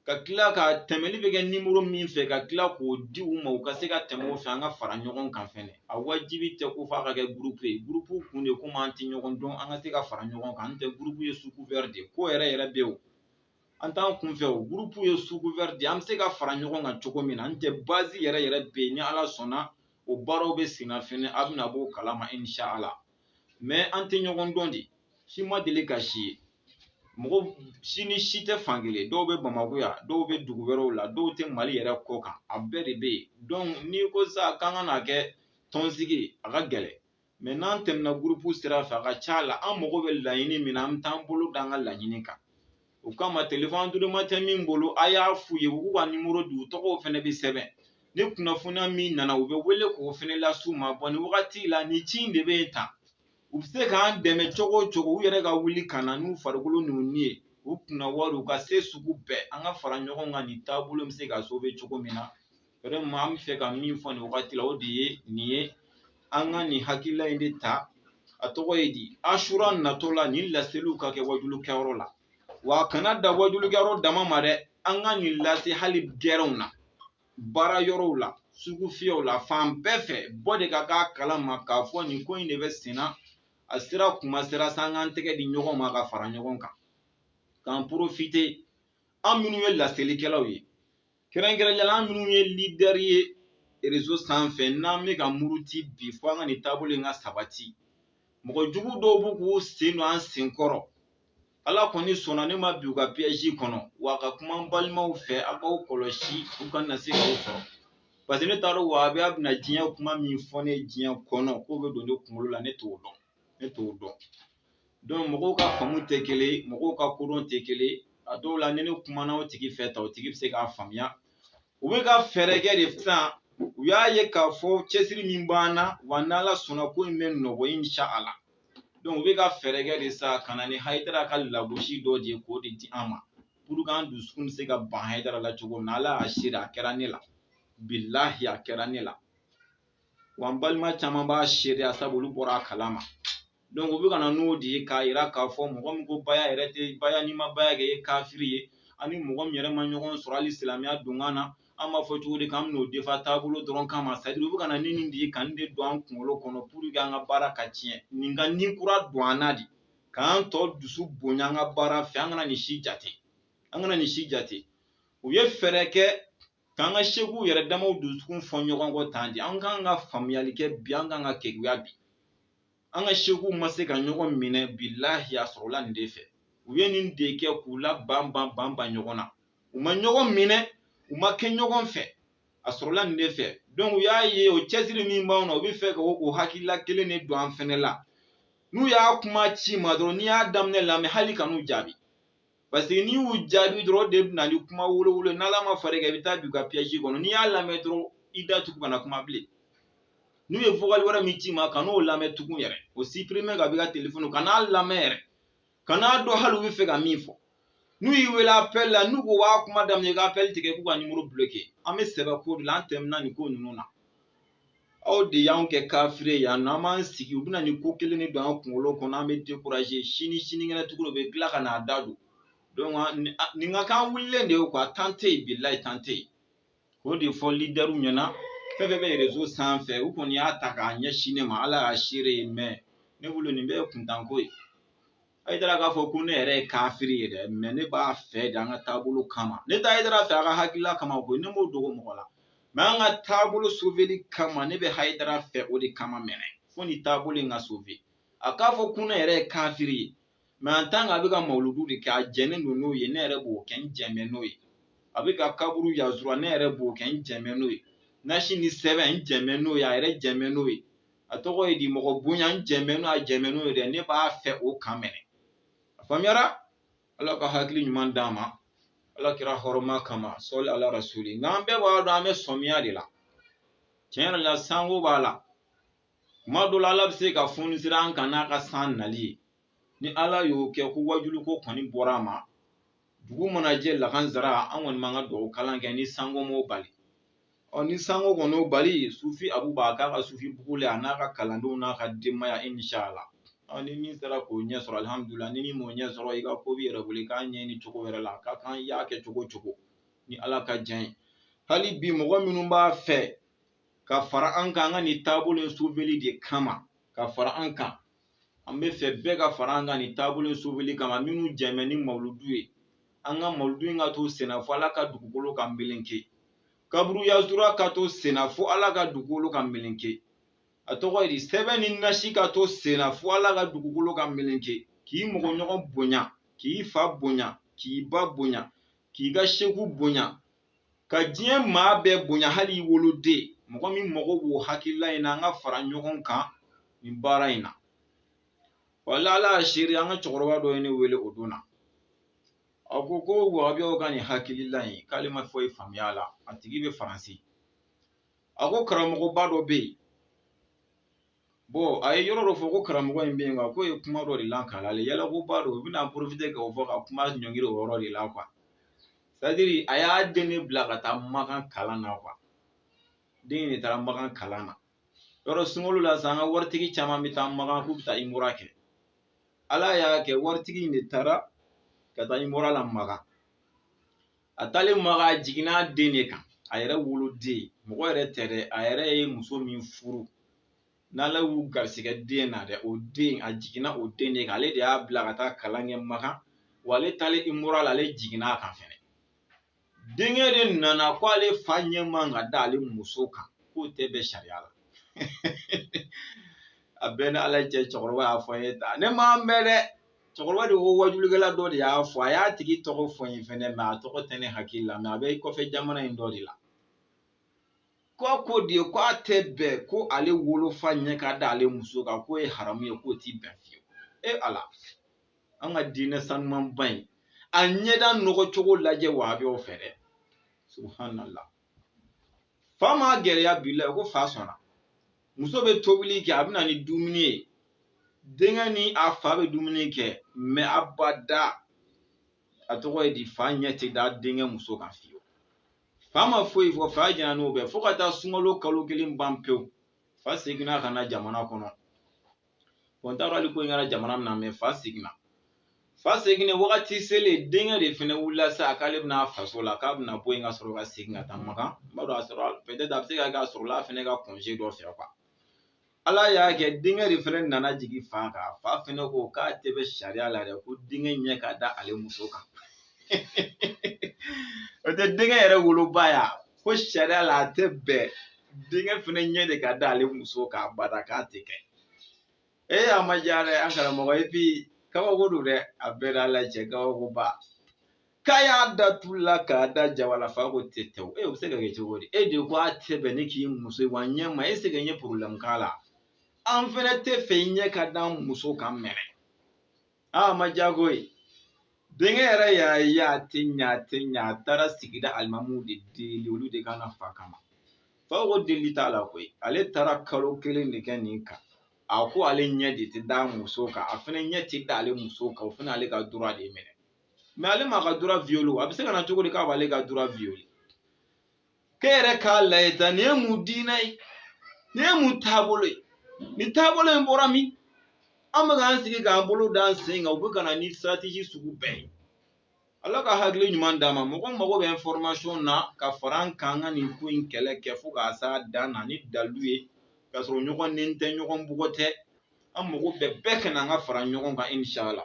ka tila ka tɛmɛli bɛ kɛ nimoro min fɛ ka tila k'o di u ma u ka se ka tɛmɛ o fɛ an ka fara ɲɔgɔn kan fɛnɛ a wajibi tɛ ko f'a ka kɛ gurupu ye gurupu kun de komi an tɛ ɲɔgɔn dɔn an ka se ka fara ɲɔgɔn kan n tɛ gurupu ye sous-couvert de ko yɛrɛ yɛrɛ bɛ o an t'an kunfɛ o gurupu ye sous-couvert de an bɛ se ka fara ɲɔgɔn kan cogo min na n tɛ bazi yɛrɛ yɛrɛ bɛ yen ni ala sɔnna o baaraw bɛ senna fɛnɛ a bɛna b'o kalama inshallah mɛ an tɛ ɲɔgɔn dɔn de si ma deli ka si ye mɔgɔ si ni si tɛ fankelen dɔw bɛ bamakɔ yan dɔw bɛ dugu wɛrɛw la dɔw tɛ mali yɛrɛ kɔ kan a bɛɛ de bɛ yen dɔnku n'i ko sa k'an ka n'a kɛ tɔnsigi a ka gɛlɛn mɛ n'an tɛmɛna gurupu sira fɛ a ka ca la an mago bɛ laɲini min na an bɛ taa an bolo da an ka laɲini kan o kama telefɔn anduruma tɛ min bolo a y'a f'u ye u k'u ka nimoro di u tɔgɔw fana bɛ sɛbɛn ni kunnafoniya min nana u bɛ wele k'o fana las'u ma bɔn nin wagati la nin ci in de bɛ yen tan u bɛ se k'an dɛmɛ cogo o cogo u yɛrɛ ka wuli ka na n'u farikolo n'u ni ye u kunna wari u ka se sugu bɛɛ an ka fara ɲɔgɔn kan nin taabolo bɛ se ka sauver cogo min na vraiment an bɛ fɛ ka min fɔ nin wagati la o de ye nin ye an ka nin hakilila in de ta a tɔgɔ ye di asura natɔ la nin laseliw ka kɛ wajulu kɛyɔrɔ la wa a kana da wajulu kɛyɔrɔ dama ma dɛ an ka nin lase hali gɛrɛnw na baara yɔrɔw la sugu fiyɛw la fan bɛɛ fɛ bɔ de ka k'a kalama k'a fɔ nin ko in de bɛ sen na a sera kuma sera sa an k'an tɛgɛ di ɲɔgɔn ma ka fara ɲɔgɔn kan k'an porofite an minnu ye laselikɛlaw ye kɛrɛnkɛrɛnya la an minnu ye leader ye réseau sanfɛ n'an bɛ ka muruti bi fo an ka nin taabolo in ka sabati mɔgɔ jugu dɔw b'u k'u sen don an sen kɔrɔ ala kɔni sɔnna ne ma bin u ka piège kɔnɔ wa ka kuma n balimaw fɛ aw k'aw kɔlɔsi u kana se k'aw sɔrɔ parce que ne t'a dɔn wa a bɛ a bɛna diɲɛ kuma min fɔ ne diɲɛ kɔnɔ k'o bɛ don ne kunkolo la ne t'o dɔn ne t'o dɔn donc mɔgɔw ka faamu tɛ kelen ye mɔgɔw ka kodɔn tɛ kelen ye a dɔw la ni ne kumana o tigi fɛ ta o tigi bɛ se k'a faamuya u bɛ ka fɛɛrɛ kɛ de sisan u y'a ye k'a fɔ cɛsiri min b'an na wa n'ala sɔnna ko in bɛ nɔgɔ inshallah donc u bɛ ka fɛɛrɛ kɛ de sisan ka na ni hayidara ka lagosi dɔ de ye k'o de di an ma pour que an dusukun bɛ se ka ban hayidara la cogo min na ala y'a seere a kɛra ne la bilahi a kɛra ne la wa n balima caman b'a seereya sabu olu bɔra a kalama donc u bɛ ka na n'o de ye k'a yira k'a fɔ mɔgɔ min ko baya yɛrɛ tɛ baya n'i ma baya kɛ i ye kafiri ye ani mɔgɔ min yɛrɛ ma ɲɔgɔn sɔrɔ hali silamɛya donkan na an b'a fɔ cogo di k'an bɛn'o defa taabolo dɔrɔn kama c'est à dire u bɛ ka na ni nin de ye ka nin de don an kunkolo kɔnɔ pour que an ka baara ka tiɲɛ nin ka ni kura don an na de k'an tɔ dusu bonya an ka baara fɛ an ka an kana nin si jate u ye fɛɛrɛ kɛ k'an ka sekuw yɛrɛ damaw dusukun fɔ ɲɔgɔn kɔ tan de an kan ka faamuyali kɛ bi an kan ka keguya bi an ka sekuw ma se ka ɲɔgɔn minɛ bilahi a sɔrɔla nin de fɛ u ye nin de kɛ k'u laban ban ban ban ɲɔgɔn na u ma ɲɔgɔn minɛ u ma kɛ ɲɔgɔn fɛ a sɔrɔla nin de fɛ donc u y'a ye o cɛsiri min b'anw na u bɛ fɛ ka o hakilila kelen de don an fɛnɛ la n'u y'a kuma ci i ma dɔrɔn n'i y'a daminɛ lamɛn hali kan'u jaabi parce que n'i y'u jaabi dɔrɔn o de bɛ na ni kuma wolowolo n'ala ma far'i kan i bɛ taa bin u ka piège kɔnɔ n'i y'a lamɛn dɔrɔn i da tugu kana kuma bilen n'u ye vokali wɛrɛ min ci i ma kan'o lamɛn tugun yɛrɛ o supprimer ka b'i ka telefɔni kan'a lamɛn yɛrɛ kan'a dɔn hali u bɛ fɛ ka min fɔ n'u y'i wele appel la n'u ko u b'a kuma daminɛ i ka appel tigɛ k'u ka nimoro bloquer an bɛ sɛbɛ ko de la an tɛmɛna nin ko ninnu na aw de y'an kɛ kafiri ye yan non an b'an sigi u bɛna nin ko kelen de don an kunkolo kɔnɔ an bɛ décourager sini sinikɛnɛ tugun olu bɛ tila ka n'a da don donc nin ka kan wulilen de ye quoi temps tɛ yen bilahi temps tɛ yen k'o de fɔ leaderw ɲɛna fɛn fɛn bɛ réseau sanfɛ u kɔni y'a ta k'a ɲɛsin ne ma ala y'a seere ye mais ne bolo nin bɛɛ ye kuntanko ye hayidara k'a fɔ ko ne yɛrɛ ye kafiri ye dɛ mais ne b'a fɛ de an ka taabolo kama ne tɛ hayidara fɛ a ka hakilila kama ko ne m'o dogo mɔgɔ la mais an ka taabolo soveli kama ne bɛ hayidara fɛ o de kama mais ne fo nin taabolo in ka sove a k'a fɔ ko ne yɛrɛ ye kafiri ye mais en tant qu'a bɛ ka mawuludu de kɛ a jɛnnen don n'o ye ne yɛrɛ b'o kɛ n jɛmɛ n'o ye a bɛ ka kaburu ziyara ne yɛrɛ b'o kɛ n jɛmɛ n'o ye nasi ni sɛbɛn n jɛmɛ n'o ye a yɛrɛ jɛmɛ n'o ye a tɔgɔ ye di mɔgɔ bonya n jɛmɛ n'o a jɛmɛ n'o ye dɛ ne b'a fɛ o kan mɛnɛ a faamuyara ala ka hakili ɲuman d'an ma ala kira hɔrɔnma kama sɔli ala rasuli nka an bɛɛ b'a dɔn an bɛ sɔmiya de la tiɲɛ yɛrɛ la sanko b'a la kuma dɔ la ala bɛ se ka foni sira an kan n'a ka san nali ye ni ala y'o kɛ ko wajuli ko kɔni bɔra a ma dugu mana jɛ lakansara an kɔni b'an ka dugawu kalan kɛ ni sanko m'o bali ɔ ni sanko kɔni y'o bali sufi abu b'a k'a ka sufi bugu la a n'a ka kalandenw n'a ka denbaya inshala ɔ ni min sera k'o ɲɛ sɔrɔ alihamudulila ni min m'o ɲɛ sɔrɔ i ka ko b'i yɛrɛ bolo i k'a ɲɛɲini cogo wɛrɛ la ka kan i y'a kɛ cogo cogo ni ala ka diɲɛ ye hali bi mɔgɔ minnu b'a fɛ ka fara an kan an ka nin taabolo in soveli de kama ka fara an kan an b'a fɛ bɛɛ ka fara an kan nin taabolo in soveli kama minnu jɛmɛ ni mawuludu ye an ka mawuludu in ka to senna fo ala ka dugukolo ka meleke kaburu yazura ka to senna fo ala ka dugukolo ka meleke a tɔgɔ ye di sɛbɛn ni nasi ka to senna fo ala ka dugukolo ka meleke k'i mɔgɔ ɲɔgɔn bonya k'i fa bonya k'i ba bonya k'i ka seku bonya ka diɲɛ maa bɛɛ bonya hali i woloden mɔgɔ min mago b'o hakilila in na an ka fara ɲɔgɔn kan nin baara in na wala ala y'a seere an ka cɛkɔrɔba dɔ ye ne wele o don na a ko ko wahabiyaw ka nin hakilila in k'ale ma foyi faamuya a la a tigi bɛ faransi a ko karamɔgɔba dɔ bɛ yen bɔn a ye yɔrɔ dɔ fɔ ko karamɔgɔ in bɛ yen nka k'o ye kuma dɔ de lakal'ale y'a la ko ba don u bɛna porofite k'o fɔ ka kuma ɲɔngiri o yɔrɔ de la kuwa sɛtadiri a y'a den de bila ka taa makan kalan na kuwa den de taara makan kalan na yɔrɔ sunkalo la sisan an ka waritigi caman bɛ taa makan k'u bɛ taa imura kɛ ala y'a kɛ waritigi in de taara ka taa imura la makan a taalen makan a jiginna a den de kan a yɛrɛ woloden mɔgɔ wɛrɛ tɛ dɛ a yɛrɛ ye muso min furu n'ala y'u garisigɛ den na dɛ o den a jiginna o den de kan ale de y'a bila ka taa kalan kɛ makan wa ale taalen imura la ale jiginna a kan fɛnɛ denkɛ de nana ko ale fa ɲɛ man ka da ale muso kan k'o tɛ bɛn sariya la a b'a ni ala cɛ cɛkɔrɔba y'a fɔ n ye ta ne m'a bɛn dɛ cɛkɔrɔba de ko wajulikɛla dɔ de y'a fɔ a y'a tigi tɔgɔ fɔ n ye fɛnɛ mɛ a tɔgɔ tɛ ne hakili la mɛ a bɛ kɔfɛ jamana in dɔ de la ko a ko de ko a tɛ bɛn ko ale wolofa ɲɛ ka da ale muso kan k'o ye haramu ye k'o ti bɛn fiyewu e ala an ka diinɛ sanumanba in a ɲɛda nɔgɔ cogo lajɛ wahabiyaw fɛ dɛ subhanallah fa ma gɛlɛya bila ko fa sɔnna muso bɛ tobili kɛ a bɛ na ni dumuni ye denkɛ ni a fa bɛ dumuni kɛ mɛ abada a tɔgɔ ye di fa ɲɛ tɛ da denkɛ muso kan fiyewu fa ma foyi fɔ fa jɛna n'o bɛɛ fo ka taa sunkalo kalo kelen ban pewu fa seginna ka na jamana kɔnɔ bɔn n t'a dɔn hali ko in kɛra jamana min na mɛ fa seginna fa seginna wagati selen denkɛ de fana wulila sa k'ale bɛna faso la k'a bɛna bɔ yen ka sɔrɔ ka segin ka taa makan n b'a dɔn a sɔrɔ pɛtɛ a bɛ se ka k'a sɔrɔla a fana ka konze dɔ fɛ kuwa ala y'a kɛ denkɛ de fana nana jigin fa kan fa fana ko k'a tɛ bɛn sariya la dɛ ko denkɛ ɲɛ ka da ale muso kan o tɛ denkɛ yɛrɛ woloba y'a ko sariya la a tɛ bɛn denkɛ fana ɲɛ de ka d'ale muso kan abada k'a tɛ kɛ e y'a ma diya dɛ an karamɔgɔ epi kabako don dɛ a bɛ n n'ala cɛ kabakoba k'a y'a da tulu la k'a da jaba la fa ko tetewu e o bɛ se ka kɛ cogo di e de ko a tɛ bɛn ne k'i muso ye wa ɲɛ ma e se ka ɲɛ porobilɛmu k'a la an fɛnɛ t'a fɛ i ɲɛ ka d'an muso kan mɛnɛ a ma diya koyi denkɛ yɛrɛ y'a ye a tɛ ɲa a tɛ ɲa a taara sigida alimamuw de deli olu de ka na fa kama fa ko deli t'a la koyi ale taara kalo kelen de kɛ nin kan a ko ale ɲɛ de tɛ da muso kan a fana ɲɛ tɛ da ale muso kan o fana ale ka droit de minɛ mɛ ale m'a ka droit violé a bɛ se ka na cogo di k'a b'ale ka droit violé k'e yɛrɛ k'a lajɛ tan nin ye mun diinɛ ye nin ye mun taabolo ye nin taabolo in bɔra min an bɛ k'an sigi k'an bolo da an sen kan u bɛ ka na ni siratiji sugu bɛɛ ye ala ka hakili ɲuman d'a ma mɔgɔ o mɔgɔ bɛ information na ka fara an kan ka nin ko in kɛlɛ kɛ fo k'a s'a dan na ni dalu ye k'a sɔrɔ ɲɔgɔn neni tɛ ɲɔgɔn bugɔ tɛ an mɔgɔ bɛɛ bɛɛ ka na an ka fara ɲɔgɔn kan inshala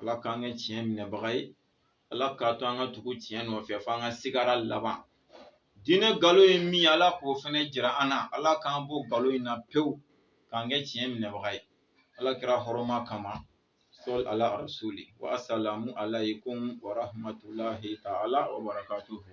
ala k'an kɛ tiɲɛ minɛbaga ye ala k'a to an ka tugu tiɲɛ nɔfɛ fo an ka sigara laban diinɛ nkalon ye min ala k'o fana jira an na ala k'an bɔ nkalon in na pewu k'an kɛ tiɲɛ minɛbaga ye ala kira hɔrɔma kama sɔli ala arasuli wasalamu alaikum warahamatulayi taala wabarakatuhu